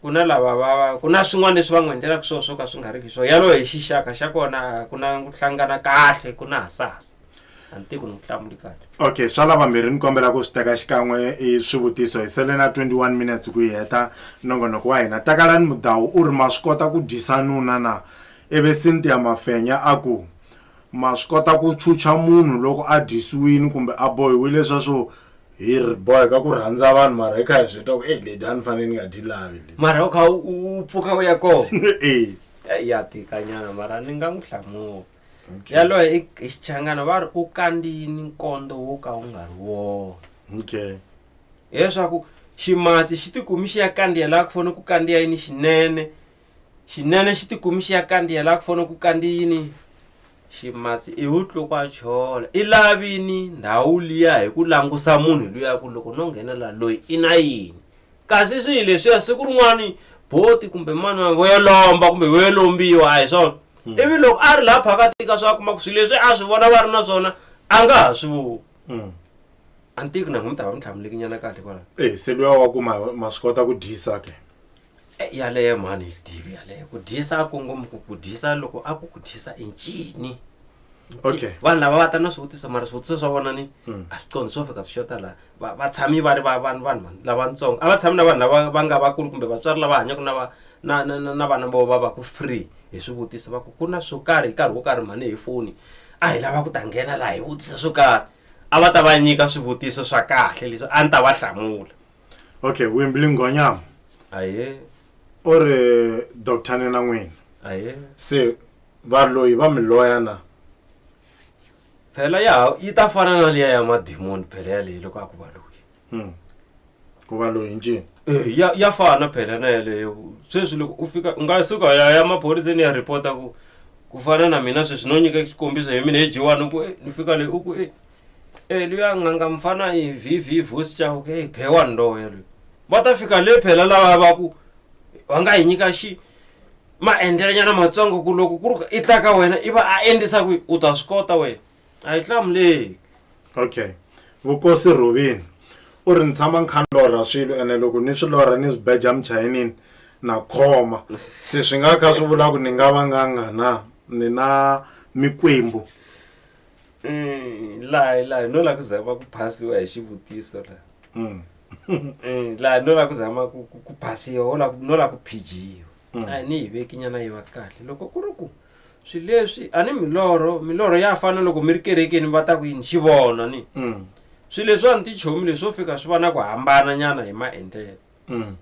ku na lava va va ku na swin'wana leswi va n'wi endlelaka swona swo ka swi nga ri ki swona yaloyo hi xixaka xa kona a ku na ku hlangana kahle ku na hasahasa a ni tivi ku ni ku hlamuli kahle okay swa lava mbirhi ni kombela ku swi teka xikan'we i swivutiso hi sele na 21 minutes ku yi heta nongonoko wa hina takalani mudawu u ri ma swi kota ku dyisa nuna na ivi cynthia mafenya a ku ma swi kota ku chucha munhu loko a dyisiwini kumbe a bohiwile sweswo hi ri boheka ku rhandza vanhu mara hi kha hi swi twa ku e ledi a ni fanele ni nga dyi lavi ledi mara u kha u u pfuka u ya kona e Eh, ya tikanyana mara ni nga n'wi hlamula yaloye i i xichangana va ri u kandziyini nkondo wo ka wu nga ri wona okay hileswaku ximatsi xi tikumi xi ya kandziya laha ku fanele ku kandziya yini xinene Xinene xi tikumi xi ya kandiya la ku fana ku kandiyini ximatsi i wu tlukwa chola i lavini ndhawu liya hi ku langusa munhu luya ku loko no nghena la loyi i na yini kasi swihi leswiya siku rin'wana boti kumbe mani wa vo yo lomba kumbe vo yo lombiwa a hi swona ivi loko a ri laha phakathi ka swa kuma ku swilo leswi a swi vona va ri na swona a nga ha swi voni a ni tivi ku na n'wi mi ta va mi tlhamuleki nyana kahle kwalaho Eh, se luya wa ku ma ma swi kota ku dyisa ke Eh, yaleyo mhani yi tivi yaleyo ku dyisa a kongoma ku ku dyisa loko a ku ku dyisa i ncini okay vanhu lava va ta na swivutiso mara swivutiso swa vona ni Hmm. a swi condi swo fika swi xota laha Va- va tshami va ri va- vanhu vanhu vanhu lavatsongo a va tshami na vanhu lava va nga vakulu kumbe vatswari lava hanyaka na va- na- na na- na vana vo va va ku free hi swivutiso va ku ku na swo karhi hi nkarhi wo karhi mhani hi foni a hi lava ku ta nghena laha hi vutisa swo karhi a va ta va nyika swivutiso swa kahle leswi a ni ta va hlamula okay wembly nghonyama aye u ri doctor nina n'wina aye se valoyi va mi loya na phela ya yi ta fana na liya ya madimoni phela yaleyi loko a ku va loyi Hmm. ku va loyi ncini Eh, ya ya fana phela na yaleyo sweswi loko u fika u nga suka ya ya maphoriseni ya ripota ku ku fana na mina sweswi no nyika xikombiso hi mina hi jiwani u ku "Eh, ni fika leyi u ku "Eh, Eluya nganga mfana hi vv vosi chau ke phewa ndo eluya va ta fika le phela lava va ku va nga hi nyika xi maendlelanyana matsongo ku loko ku ri i ta ka wena i va a endlisa kwihi u ta swi kota wena a yi hlamuleki okay vukosi rhuvini u ri ni tshama ni kha ni lorha swilo ene loko ni swi lorha ni swi beja muchayinini na khoma se swi nga kha swi vula ku ni nga va nganga na ni na mikwembu Mm, laha laha no la ku zama ku phasiwa hi xivutiso la Mm. Mm, laha no la ku zama ku ku- ku phasiwa wo la ku- no la ku phijiwa Mm. a ni yi veki nyana yi va kahle loko ku ri ku swi leswi a ni milorho milorho ya fana loko mi ri kerekeni va ta ku yini xi vona ni Mm. swi leswiwani tichomi leswo fika swi va na ku hambana nyana hi maendlelo Mm.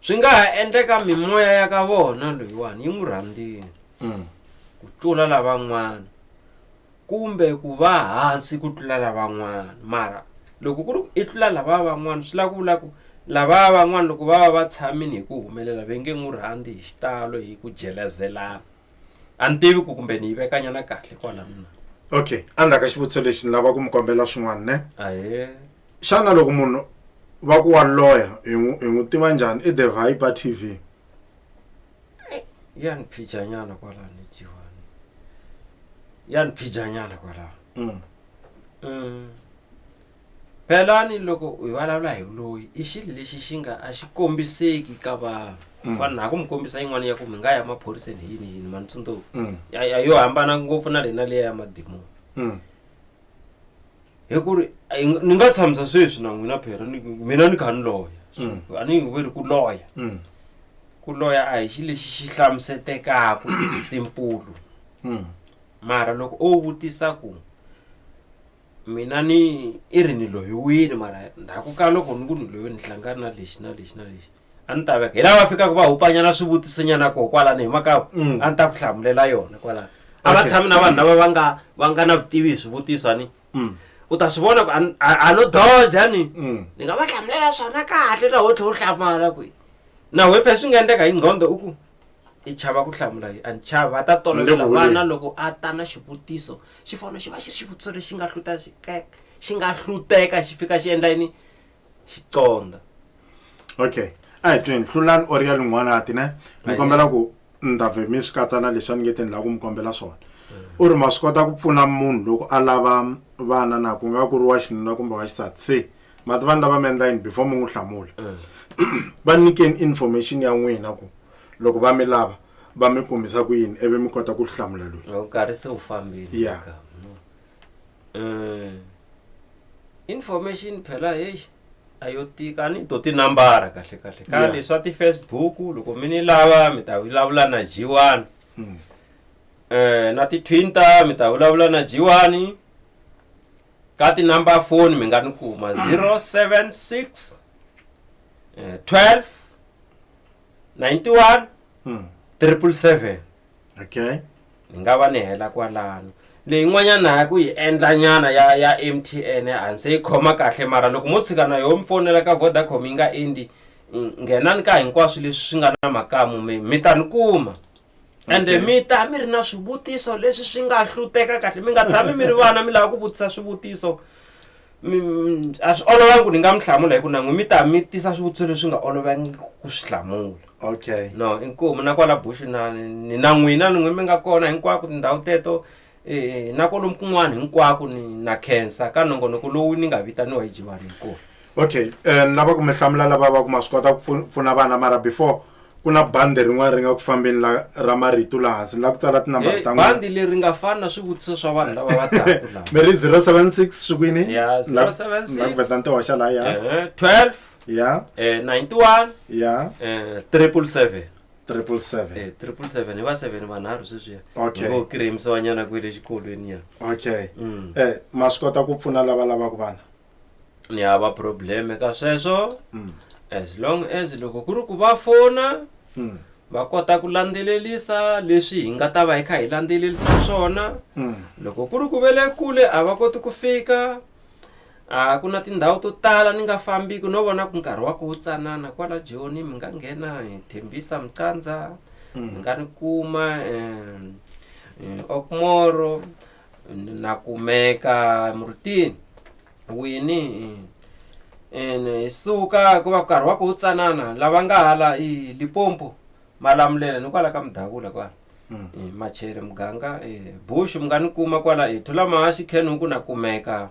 swi nga ha endleka mimoya ya ka vona loyiwani yi n'wi rhandzile Mm. ku tlula lavan'wana kumbe ku va hansi ku tlula lavan'wana mara loko ku ri ku i tlula lava van'wana swi lava ku vula ku lava van'wana loko va va va tshamile hi ku humelela va nge n'wi rhandzi hi xitalo hi ku jelezelana a ni tivi ku kumbe ni yi veka nyana kahle kwala mina okay endzhaku ka xivutiso lexi ni lava ku mi kombela swin'wana ne ahe xana loko munhu va ku wa loya hi n'wi- hi n'wi tiva njhani i the viper t v ya ni phija nyana kwala ni jiwani ya ni phija nyana kwala Mm. Mm. Phelani loko hi vulavula hi vuloyi i xilo lexi xi nga a xi kombiseki ka vanhu ku fana na ha ku mi kombisa yin'wana ya ku mi nga ya maphoriseni hi yini yini mani tsundzuka Mm. ya ya- yo hambana ngopfu na lena leya ya madimoni Mm. hi ku ri a yi nga- ni nga tshamisa sweswi na n'wina phera ni- mina ni kha ni loya Mm. a ni hi veri ku loya Mm. ku loya a hi xi lexi xi hlamusetekaku simpulu Mm. mara loko o vutisa ku mina ni i ri ni loyiwini mara ndzhaku ka loko ni ku ni loyi ni hlangana na lexi na lexi na lexi a ni ta veka hi lava fikaka va hupanyana swivutisonyana koho kwalani hi maka mm. a ni ta ku hlamulela yona kwalani a va tshami na vanhu lava va nga va nga na vutivi hi swivutiso ni mm. u ta swi vona ku a no doja ni mm. ni nga va hlamulela swona kahle na ho tlhe u hlamala kwihi na wepe swi nga endleka hi nqhondo u ku i chava ku hlamula yi and chava a ta tolovela vana loko a ta na xivutiso xi fanele xi va xi ri xivutiso lexi nga hluta xi xi nga hluteka xi fika xi endla yini xi conda okay a hi tweni hlulani or ya lin'wana ati ne ni kombela ku ni ta vhe mi swi katsa na leswi a ni nge te ni lava ku mi kombela swona u ri ma swi kota ku pfuna munhu loko a lava vana na ku nga ku ri wa xinuna kumbe wa xisati se mati vanhu lava mi endla yini before mi n'wi hlamula va nyikeni information ya n'wina ku loko va mi lava va mi kumisa ku yini ivi mi kota ku swi hlamula loyi loko nkarhi se wu fambile Ya. ka. Mm. information phela heyi a yo tika a ni to tinambara kahle kahle Ya. kambe swa ti-facebook loko mi ni lava mi ta vulavula na jiwani um na ti-twinter mi ta vulavula na jiwani ka tinumber phone mi nga ni kuma 076 eh, 12 91 Mm. 777 okay ni nga va ni hela kwalano leyin'wanyana ya ku yi endla nyana ya ya m t n a ni se yi khoma kahle mara loko mo tshika na yoho mi fonela ka vodacom yi nga endi i- nghenani ka hinkwaswo leswi swi nga na makamu mi mi ta ni kuma ende Okay. mi ta mi ri na swivutiso leswi swi nga hluteka kahle mi nga tshami mi ri vana mi lava ku vutisa swivutiso Mi- mi- a swi olovangi ku ni nga mi hlamula hi ku nan'we mi ta mi tisa swivutiso leswi nga olovangi ku swi hlamula okay no inkomu na kwala bushu na ni na n'wina ni n'we mi nga kona hinkwako tindhawu teto E, na kolomu kun'wana hinkwako ni na khensa ka nongonoko lowu ni nga vitaniwa hi jiwani hikuva okay um lava ku mi hlamula lava va ku ma swi kota ku pfu- pfuna vana mara before ku na bandi rin'wana ri nga ku fambeni la ra marito laha hansi ni la ku tsala tinambara Eh, ta n'wina bandi leri nga fani na swivutiso swa vanhu lava va taku lava mi ri 076 swi kwini Ya, Ni la ku- 076. ni la ku vesa ni ti hoxa laha ya Eh, 12 ya eh, 91 ya eh, 777 triple seven eh, triple seven hi va seven vanharhu sweswiya Okay. ngo kiremisiwa nyana kwihi le xikolweni ya okay Mm. eh ma swi kota ku pfuna lava lavaka vana ni hava probleme ka sweswo Mm. as long as loko ku ri ku va fona Mm. va kota ku landzelelisa leswi hi nga ta va hi kha hi landzelelisa swona Mm. loko ku ri ku ve le kule a va koti ku fika A ku na tindhawu to tala ni nga fambiki no vona ku nkarhi wa ku wu tsanana kwala joni mi nga nghena hi thembisa micandza mi nga ni kuma um okmoro na kumeka murutini wini ene hi suka ku va nkarhi wa ku wu tsanana lava nga hala i lipompo malamulela ni kwala ka mudavula kwala machere muganga bush mi nga ni kuma kwala i thula mahaxi khenhuku na kumeka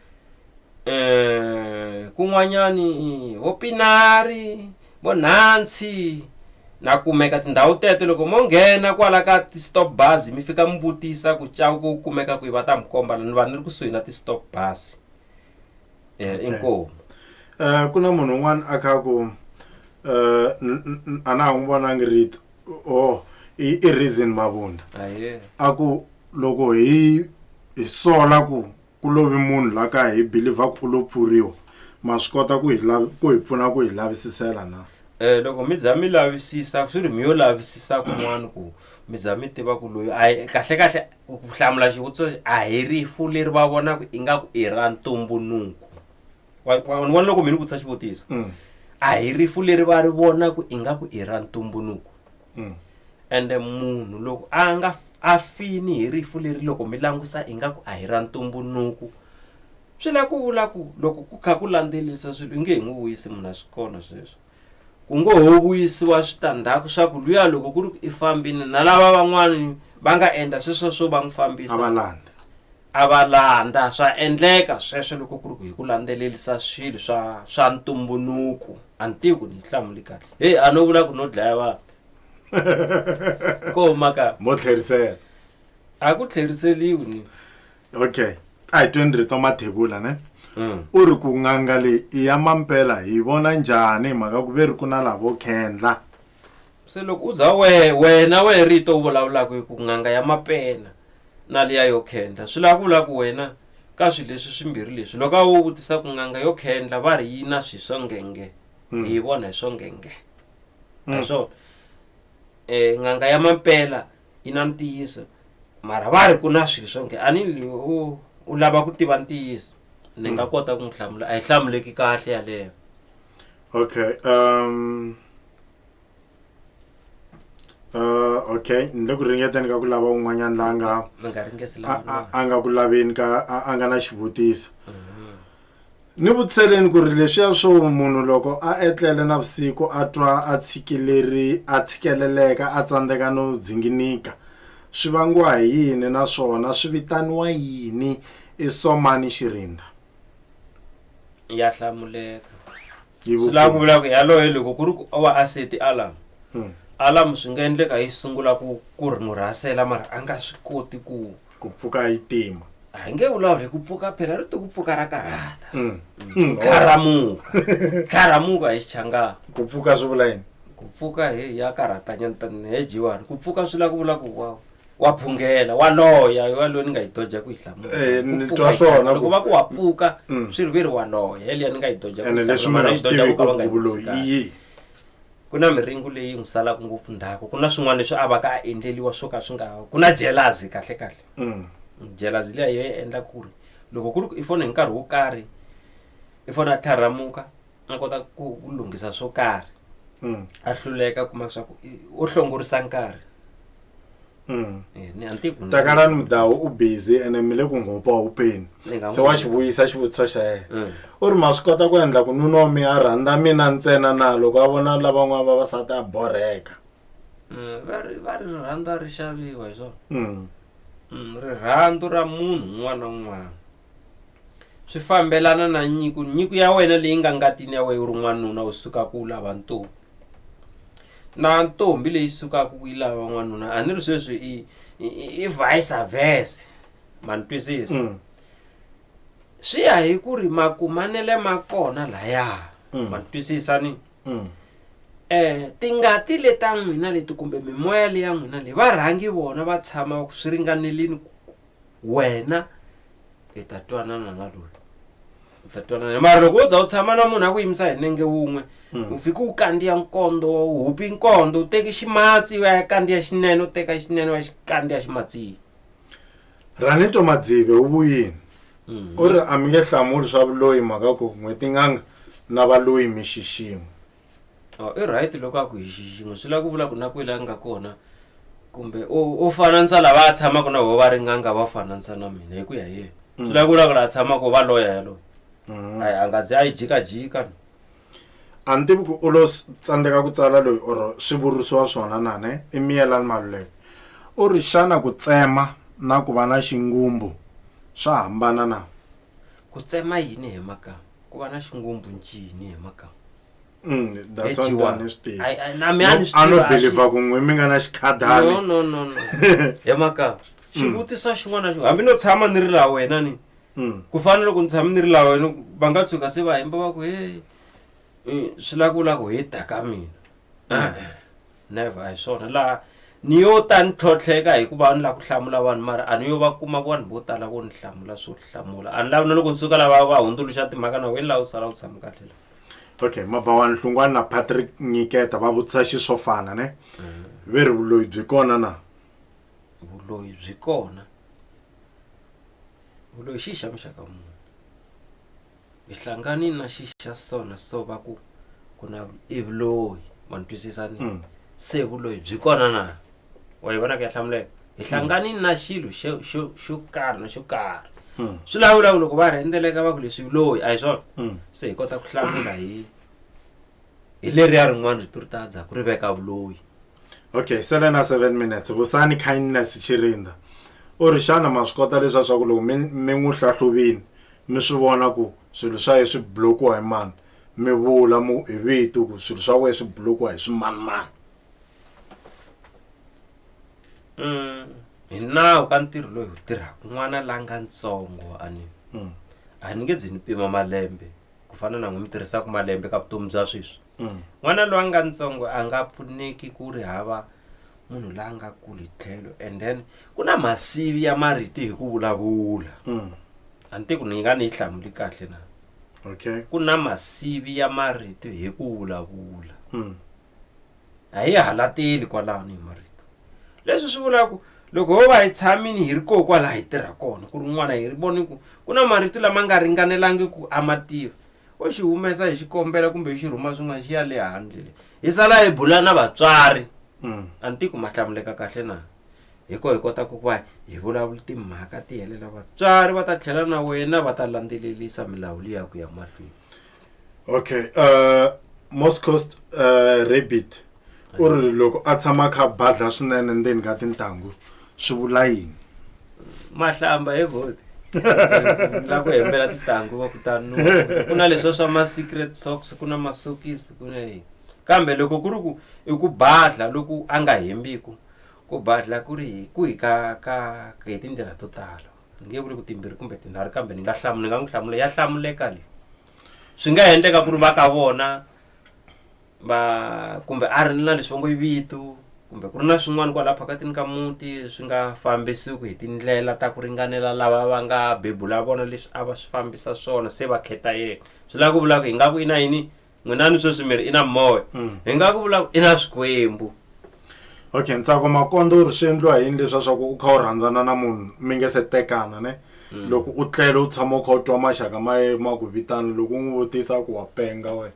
um kun'wanyani vo pinari vo nhansi na kumeka tindhawu teto loko mo nghena kwala ka ti-stop bus mi fika mi vutisa ku ca ku kumeka kwihi va ta mi komba ni vanhu ni ri kusuhi na ti-stop bus um inkomu Eh ku na munhu un'wana a kha ku eh n- n- n- a na ha n'wi vonangi rito oh i i reason mavunda ahee a ku loko hi hi sola ku ku lovi munhu la ka hi believer ku u lo pfuriwa ma swi kota ku hi lavi ku hi pfuna ku hi lavisisela na Eh loko mi za mi lavisisa swi ri mi yo lavisisa kun'wana ku mi za mi tiva ku loyi a hi- kahle kahle ku ku hlamula xivutiso lexi, a hi rifu leri va vonaka ingaku i ra ntumbuluko Wa- wa- wa- ni vona loko mi ni vutisa xivutiso a hi rifu leri va ri vonaka ingaku i ra ntumbuluko ende munhu loko a nga f- a fini hi rifu leri loko mi langusa ingaku a hi ra ntumbuluko swi la ku vula ku loko ku kha ku landzelisa swilo i nge hi n'wi vuyisi munhu a swi kona sweswo ku ngo ho vuyisiwa switandzhaku swa ku luya loko ku ri ku i fambini na lava van'wani va nga endla sweswo swo va n'wi a va fambisa landa a va landza swa endleka sweswo loko ku ri ku hi ku landzelelisa swilo swa swa ntumbuluko a ni tivi ku ni yi hlamuli kahle heyi a no vula ku no dlaya vanhu ko maka mo tlherisela a ku tlheriseliwi ni okay a hi tweni rito mathebula ne u ri ku n'anga leyi i ya mampela hi vona njhani hi mhaka ku ve ri ku na lavo khendla se loko u za we wena we rito u vulavulaka hi ku n'anga ya mapena na liya yo khendla swi lava ku vula ku wena ka swilo leswi swimbirhi leswi loko a wo vutisa ku n'anga yo khendla va ri yi na swi swo ngenge Mm. hi yi vona hi swo ngenge Mm. hi swona um n'anga ya mampela yi na ntiyiso mara va ri ku na swilo swo nge a ni li u u lava ku tiva ntiyiso ni nga kota ku n'wi hlamula a yi hlamuleki kahle yaleyo okay um Uh, okay ni le ku ringeteni ka ku lava un'wanyana la nga mi nga ringesi a- lava a- a nga ku laveni ka a a nga na xivutiso ni vutiseleni ku ri leswiya swo munhu loko a etlele navusiku a twa a tshikileri a tshikeleleka a tsandzeka no dzinginika swi vangiwa hi yini naswona swi vitaniwa yini i somani xirinda ya hlamuleka Yi swi lava ku vula ku yaloye loko ku ri ku wa aseti alarm Hmm. alarm swi nga endleka yi sungula ku ku ri n'wi rhasela mara a nga swi koti ku ku pfuka yi tima a hi nge vulavuli hi ku pfuka phela ri ti ku pfuka ra karhata Hmm. Hmm. tlharamuka tlharamuka hi xichangana ku pfuka swi vula yini ku pfuka he ya karhatanyana tani he jiwani ku pfuka swi lava ku vula ku wa wa phungela wa loya wa loyi ni nga yi doja ku yi hlamula Eh, Ku ni pfuka twa yi swona hlamula. ku- loko va ku wa pfuka Mm. swi ri ve ri wa loya yeliya ni nga yi doja ku ene yi leswi hlamula, mi nga mara yi swi doja tivi ku ka va nga yi ku vuloyi pfuki i yini ku na miringo leyi n'wi salaka ngopfu ndhaku ku na swin'wana leswi a va ka a endleliwa swo ka swi nga ku na jelazi kahle kahle Mm. jelazi liya yo yi endla ku ri loko ku ri ku i fona hi nkarhi wo karhi i fona a tlharhamuka a kota ku ku lunghisa swo karhi Mm. a hluleka kuma leswaku i- o hlongorisa nkarhi Mm. Eh, ni a ni tivi ku ni- takalani mudawu u busy ene mi le ku nghopa hupeni Ni nga se n'wi- wa xi vuyisa xivutiso xa yena Mm. u ri ma swi kota ku endla ku nuna wa mi a rhandza mina ntsena na loko a vona lavan'wana vavasati a borheka Mm, va ri va ri rirhandzu a ri xaviwa hi swona Mm. Mm, rirhandzu ra munhu un'wana na un'wana swi fambelana na nyiko nyiko ya wena leyi nga ngatini ya wena u ri n'wanuna u suka ku lava ntombi na ntombi leyi sukaka ku yi lava n'wanuna a ni ri sweswi i i vice versa ma ni twisisa mm. swi ya hi ku ri makumanele ma kona laya mm. ma ni twisisa ni mm. eh tingati leta n'wina leti kumbe mimoya leya n'wina leyi varhangi vona va tshama swi ringanelini wena hi ta twanana na loyi u ta twanana mara loko wo za u tshama na munhu a ku yimisa hi nenge wun'we u fike u kandziya nkondo u hupi nkondo u teke ximatsi u ya kandziya xinene u teka xinene u ya xi kandziya ximatsini ranito madzive u vuyini u ri a mi nge hlamuli swa vuloyi mhaka ku n'hwetin'anga na valoyi mi xixin'we Oh, i right loko a ku hi xiximo swi lava ku vula ku na kwele a nga kona kumbe u u fananisa lava a tshamaka na vo va ri n'anga va fananisa na mina hi ku ya hi yena swi lava ku vula ku laha tshamaka va loya yaloye ayi a nga ze a yi jikajika no. a ni tivi ku u lo s- tsandzeka ku tsala loyi or swi vurisiwa swona na ne i miyelani maluleke u ri xana ku tsema na ku va na xingumbu swa hambana na ku tsema yini hi makama ku va na xingumbhu ncini hi maka Mm, that's one Edgiwa. thing ni swi tivi. Ai- ai, na mi a ni swi a no tiva, a swi- believer ku n'we mi nga na no xikhadani no no no he maka xivutiso xin'wana na xin'wana hambi no tshama ni ri la wena ni Mm, ku fana loko ni tshame ni ri la wena va nga tshuka se va hemba va ku he eh, swi la ku la ku he ta ka mina Ah, never a hi swona laha ni yo ta ni tlhotlheka hikuva a ni lava ku hlamula vanhu mara a ni yo va kuma vanhu vo tala vo ni hlamula swo hlamula a ni lavi na loko ni suka lava va hundzuluxa timhaka na wena laha u sala u tshama kahle la okay mabawani hlungwani na patrick nyiketa va vutisa xi swo fana ne mm. ve ri vuloyi byi kona na vuloyi byi kona vuloyi xi xa muxaka munhu hi hlangani na xi xa sona so va ku ku na i vuloyi ma ni twisisa ni Mm. se vuloyi byi kona na wa yi vona ku ya hlamuleka hi hlangani na xilo xo xo- xo karhi na xo karhi Mm. swi lawulaku loko va rhendzeleka va ku leswi vuloyi a hi swona Mm. se hi kota ku hlamula hi hi leriya rin'wana rito ri ta dzaku ri veka vuloyi okay sele na seven minutes vusani kindness chirinda u ri xana ma swi kota leswa swa ku loko mi mi n'wi hlahluvini mi swi vona ku swilo swa ye swi blokiwa hi mani mi vula mu hi vito ku swilo swa wena swi blokiwa hi swimanimani mm, hi nawu ka ntirho loyi wu tirhaka n'wana la nga ntsongo a ni mm. a ni nge dzi ni pima malembe ku fana na n'wi mi tirhisaka malembe ka vutomi bya sweswi Mm. n'wana loyi a nga ntsongo a nga pfuneki ku ri hava munhu la nga kuli tlhelo and then ku na masivi ya mariti hi ku vulavula Mm. a ni tiku ni nga ni yi hlamuli kahle na okay ku na masivi ya marito hi ku vulavula Mm. a hi halateli kwalano hi marito leswi swi vulaka ku loko ho va hi tshamini hi ri koho kwalaha hi tirha kona ku ri n'wana hi ri voni ku ku na marito lama nga ringanelangi ku a ma tiva u xi humesa hi xikombelo kumbe xi rhuma swin'wana xi ya le handle le hi sala hi bula na vatswari mm. a ni tiku ma hlamuleka kahle na hi ko hi kota ku va hi vulavula timhaka ti helela vatswari va ta tlhela na wena va ta landzelelisa milawu leyi ya ku ya mahlweni okay uh, moscost uh, rabbit u ri loko a tshama a kha a badla swinene ndzeni ka tintangu swi vula yini mahlamba he vhoti la ku hembela tintangu va kutani ku na leswa swa ma-secret socks ku na masokisi ku na yini kambe loko ku ri ku i ku badla loku a nga hembiku ku badla ku ri ku hi ka ka hi tindlela to tala ni nge vuli ku timbirhi kumbe tinharhu kambe ni nga hlamula ni nga n'wi hlamula ya hlamuleka leyi swi nga endleka ku ri va ka vona va kumbe a ri na leswi va ngo i vitu kumbe ku ri na swin'wana kwalaha phakatini ka muti swi nga fambisiwiki hi tindlela ta ku ringanela lava va nga bebula vona leswi a va swi fambisa swona se va kheta yena swi lava ku vula ku hi nga ku i na yini n'wina ni sweswi miri i na moya hmm. hi nga ku vula ku i na swikwembu okay ntsako makondo u ri swi endliwa yini leswi a swa ku u kha u rhandzana na munhu mi nge se tekana ne hmm. loko u tlele u tshama u kha u twa maxaka ma ye ma ku vitana loko u n'wi vutisa ku wa penga wena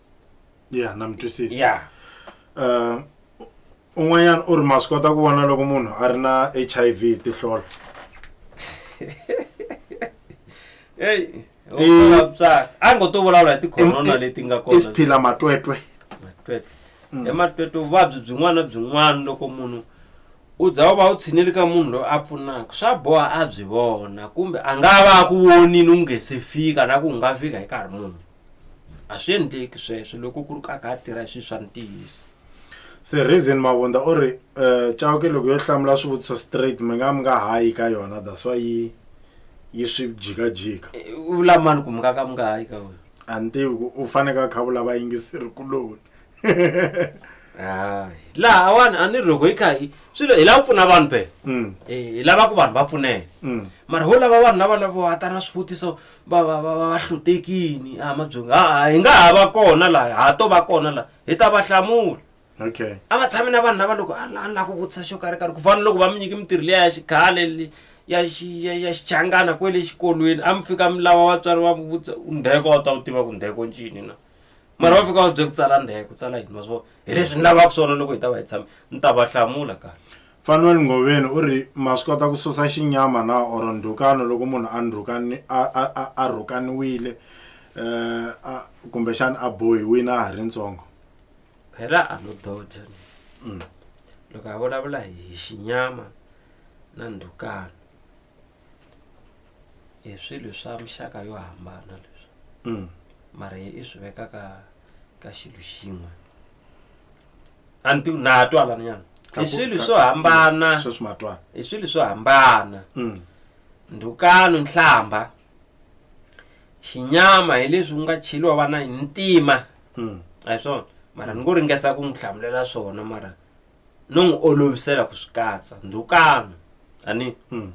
ya na mi twisisa ya Eh, un'wanyana u ri ma swi kota ku vona loko munhu a ri na h i v hi tihlola eyi Eh. vatswari a ngo to vulavula hi tikhorona Em- leti nga i kona swiphila matwetwe matwetwe ematwetwe vuvabyi byin'wana na byin'wana loko munhu u za u va u tshinile ka munhu loyi a pfunaka swa boha a byi vona kumbe a nga va a ku vonini u nge se fika na ku u nga fika hi nkarhi munhu a swi endleki sweswo loko ku ri ka ka tirha swilo swa ntiyiso se reason mavunda u ri um eh, cawuke loko yo hlamula swivutiso straight mi nga mi nga hayi ka yona that's why yi yi swi jikajika eh, u vula mani ku mi nga ka mi nga hayi ka wena a ni tivi ku u faneke a kha vula vayingiseri kuloni hayi laha wani a ni ri loko yi kha hi swilo hi lava ku pfuna vanhu phela mm. eh, hi lava ku vanhu va pfuneka mm. mara ho lava vanhu lava lavo hatana swivutiso va va va va va hlutekini a mabyongo a hi nga ha va kona laha ha to va kona laha hi ta va hlamula okay a va tshami na vanhu lava loko a la- a ni lava ku vutisa xo karhi karhi ku fana loko va mi nyike mintirho leya ya xikhale le- ya xi- ya- ya xichangana kwele xikolweni a mi fika mi lava vatswari va mi vutisa u ndheko a wu ta wu tiva ku ndheko ncini na mara va fika va bye ku tsala ndheko tsala yini ma swi vona hi leswi ni lavaka swona loko hi ta va hi tshame ni ta va hlamula kahle Fanuel Ngoveni u ri, Ma swi kota ku susa xinyama na or ndhukano loko munhu a ndhukani a a a a rhukaniwile eh a kumbexana a bohiwile a ha ri ntsongo. Phela a no dodge loko a vulavula hi xinyama na ndhukano i swilo swa mixaka yo hambana leswi mara i swi veka ka ka xilo xin'we. a ni ti na twa lani nyana i swilo swo hambana sweswi matwana i swilo swo hambana Mm. ndhukano nhlamba xinyama hi leswi ku nga cheliwa vana hi ntima Mm. a hi swona mara ni ngo ringesa ku n'wi hlamulela swona mara no n'wi olovisela ku swi katsa ndhukano ani hmm.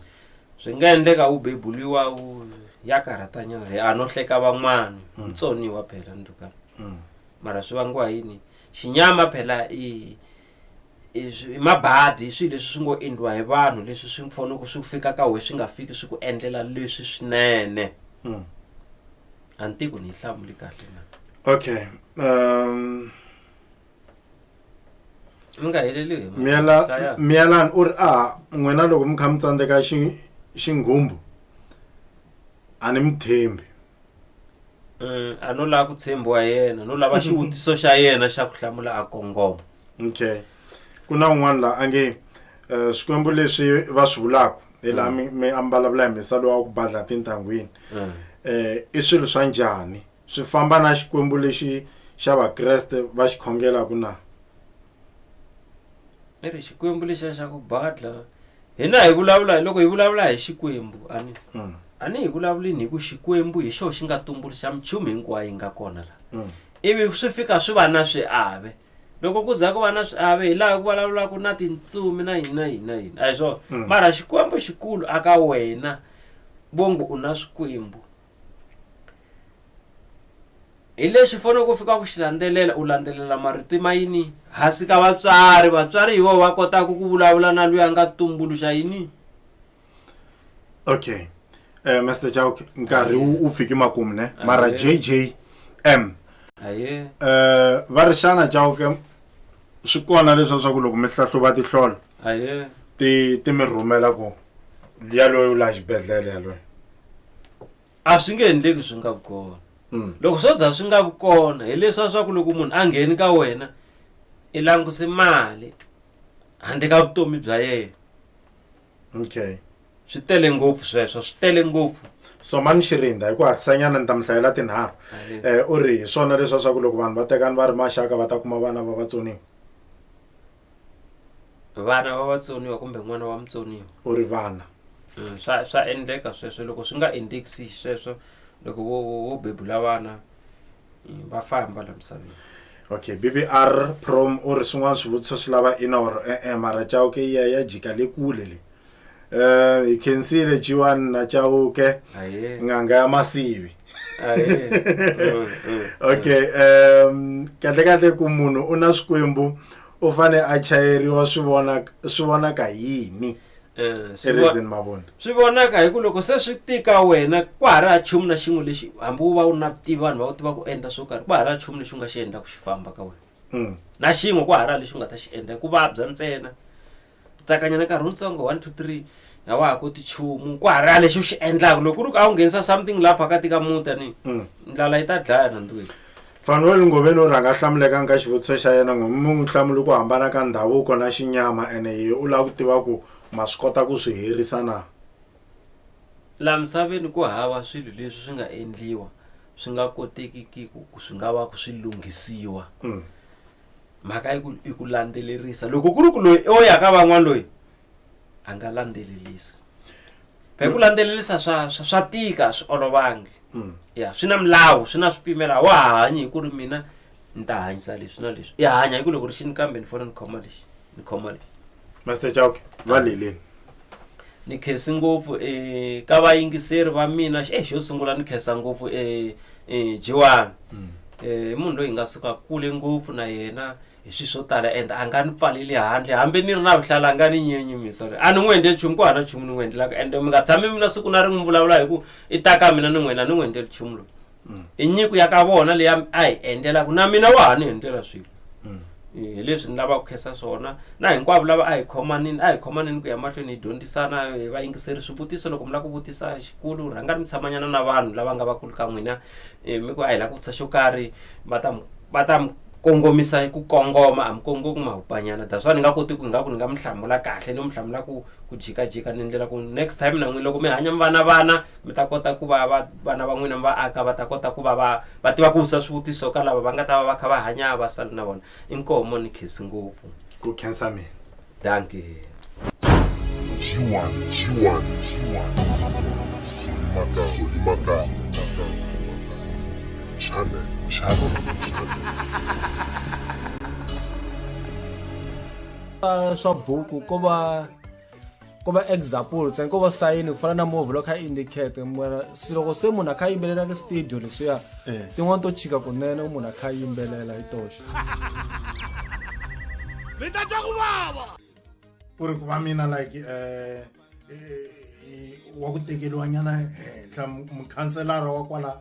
swi nga endleka u bebuliwa u ya karhatanyana leyi a no hleka van'wana hmm. mutsoniwa phela ndhukano hmm. mara swi vangiwa yini xinyama phela i i mabadi i swilo leswi swi ngo endliwa hi vanhu leswi swi fanele ku swi fika ka wena swi nga fiki swi ku endlela leswi swinene a ni tiku ni yi hlamuli kahle na okay um mi nga heleliwi hi mhaka- Hlaya. miyela miyelani u ri a n'wina loko mi kha mi tsandzeka xi- xinghumbu a ni mi tshembi Mm, a no lava ku tshembiwa yena no lava xivutiso xa yena xa ku hlamula a kongoma okay ku na un'wana la a nge eh, swikwembu leswi va swi vulaka hi laha mi mi ambalavula hi misalo wa ku badla tintangwini Mm. eh i swilo swa njhani swi famba na Xikwembu lexi xa Vakreste va xi khongelaku na? I ri Xikwembu lexiya xa ku badla hina hi vulavula hi loko hi vulavula hi Xikwembu a ni Mm. a ni hi vulavulini hi ku Xikwembu hi xona xi nga tumbuluxa minchumu hinkwayo yi nga kona laha Mm. ivi swi fika swi va na swiave loko ku za ku va na swiave hi laha ku vulavulaka na tintsumi na yini na yini na yini a hi swona Mm. mara xikwembu xikulu aka wena vongo u na swikwembu hi lexi fanele ku fika ku xi landzelela u landzelela marito ma yini hansi ka vatswari vatswari hi vona va kotaka ku vulavula na loyi a nga tumbuluxa yini okay eh Mr Chauke nkarhi wu wu fike makumu ne mara Ahee. JJM aye eh va ri xana Chauke swi kona leswa swa ku loko mi hlahluva tihlolo ahe ti ti mi rhumela ku yaloyo u laha xibedhlele yaloyo a swi nge endleki swi nga vi kona Mm. loko swo za swi nga vi kona hileswa swa ku loko munhu a ngheni ka wena i languse mali handle ka vutomi bya yena okay swi tele ngopfu sweswo swi tele ngopfu somani xirinda hi ku hatlisanyana ni ta mi hlayela tinharhu um u ri hi swona leswa swa ku loko vanhu va tekani va ri maxaka va ta kuma vana va vatsoniwa vana va vatsoniwa kumbe n'wana wa mutsoniwa u ri vana mm, swa swa endleka sweswo loko swi nga endekisi sweswo loko wo wo bebula vana mm, va famba la misaveni okay bbr prom u ri swin'wana swivutiso swi lava inor e-e mara chauke yi ya ya jika le kule le Eh, hi khensile jiwani na chauke Aye. n'anga ya masivi Aye. Mm, mm. okay um kahle kahle ku munhu u na swikwembu u fane a chayeriwa swi vona swi vonaka yini Eh, swi vo- erizini mavona swi vonaka hi ku loko se swi tika wena kwa ha ri ha chumu na xin'we lexi hambi u va u na vutivi vanhu va u tiva ku endla swo karhi kwa ha ri ha chumu lexi u nga xi endla ku xi famba ka wena Mm. na xin'we kwa ha ri ha lexi u nga ta xi endla hi ku vabya ntsena tsakanyana nkarhi wutsongo one two three a wa ha koti chumu ku hara lexi u xi endlaka loko ku ri ku a wu nghenisa something laha phakati ka muta ni mm. ndlala yi ta dlaya nandwini fanuel ngoveni u rhanga hlamuleka nka xivutiso xa yena ngo mi n'wi hlamuli ku hambana ka ndhavuko na xinyama ene ye u lava ku tiva ku ma swi kota ku swi herisa na laha misaveni ku hava swilo leswi swi nga endliwa swi nga kotekiki ku swi nga va ku swi lunghisiwa mm. mhaka yi ku i ku landzelerisa loko ku ri ku loyi o ya ka van'wana loyi a nga landzelelisi phela ku landzelelisa swa swa swa tika swi olovangi mm. ya swi na milawu swi na swipimela wa hanyi hi ku ri mina ni ta hanyisa leswi na leswi i hanya hi ku loko ri xini kambe ni fanele ni khoma lexi ni khoma leyi master chauke va leleni ni khensi ngopfu um ka vayingiseri va mina e xo sungula ni khensa ngopfu um um jiwani um i munhu loyi hi nga suka kule ngopfu na yena hi swilo swo tala and a nga ni pfaleli handle hambi ni ri na vuhlalu a nga ni nyenyumisa loyi a ni n'wi endleli nchumu ku hava na nchumu ni n'wi endlelaka and mi nga tshami mina siku na ri n'wi vulavula hi ku i ta ka mina ni n'wina ni n'wi endleli nchumu loyi mm. i nyiko ya ka vona leyi a hi endlelaka na mina wa ha ni endlela swilo mm. hi leswi ni lavaka ku khensa swona na hinkwavo lava a hi khomanini a hi khomanini ku ya mahlweni hi dyondzisana hi va yingiseri swivutiso loko mi lava ku vutisa xikulu rhanga ni mi tshamanyana na vanhu lava nga vakulu ka n'wina eh, mi ku a hi lava ku vutisa xo karhi va ta va ta kongomisa ku kongoma a mi kongomi mahupanyana that's why ni nga koti ku nga ku ni nga mi hlamula kahle ni mi hlamula ku ku jikajika ni ndlela ku next time na n'wini loko mi hanya mi vana vana mi ta kota ku va va vana va n'wina mi va aka va ta kota ku va va va tiva ku vutisa swivutiso ka lava va nga ta va va kha va hanya va sali na vona inkoho mo ni khesi ngopfu ku khensa mina danki G1, G1, G1. Solimaka, Solimaka. Channel, channel, channel. swa buku ko va ko va example ntsena ko va sayini ku fana na movhi loko kha indicate mara se loko se munhu a kha yimbelela ri studio leswiya eh. tin'wana to chika kunene munhu a kha yimbelela hi toxe mi ta twa ku vava ku ri ku va mina like um wa ku tekeriwanyana henhla mukhanselara wa kwala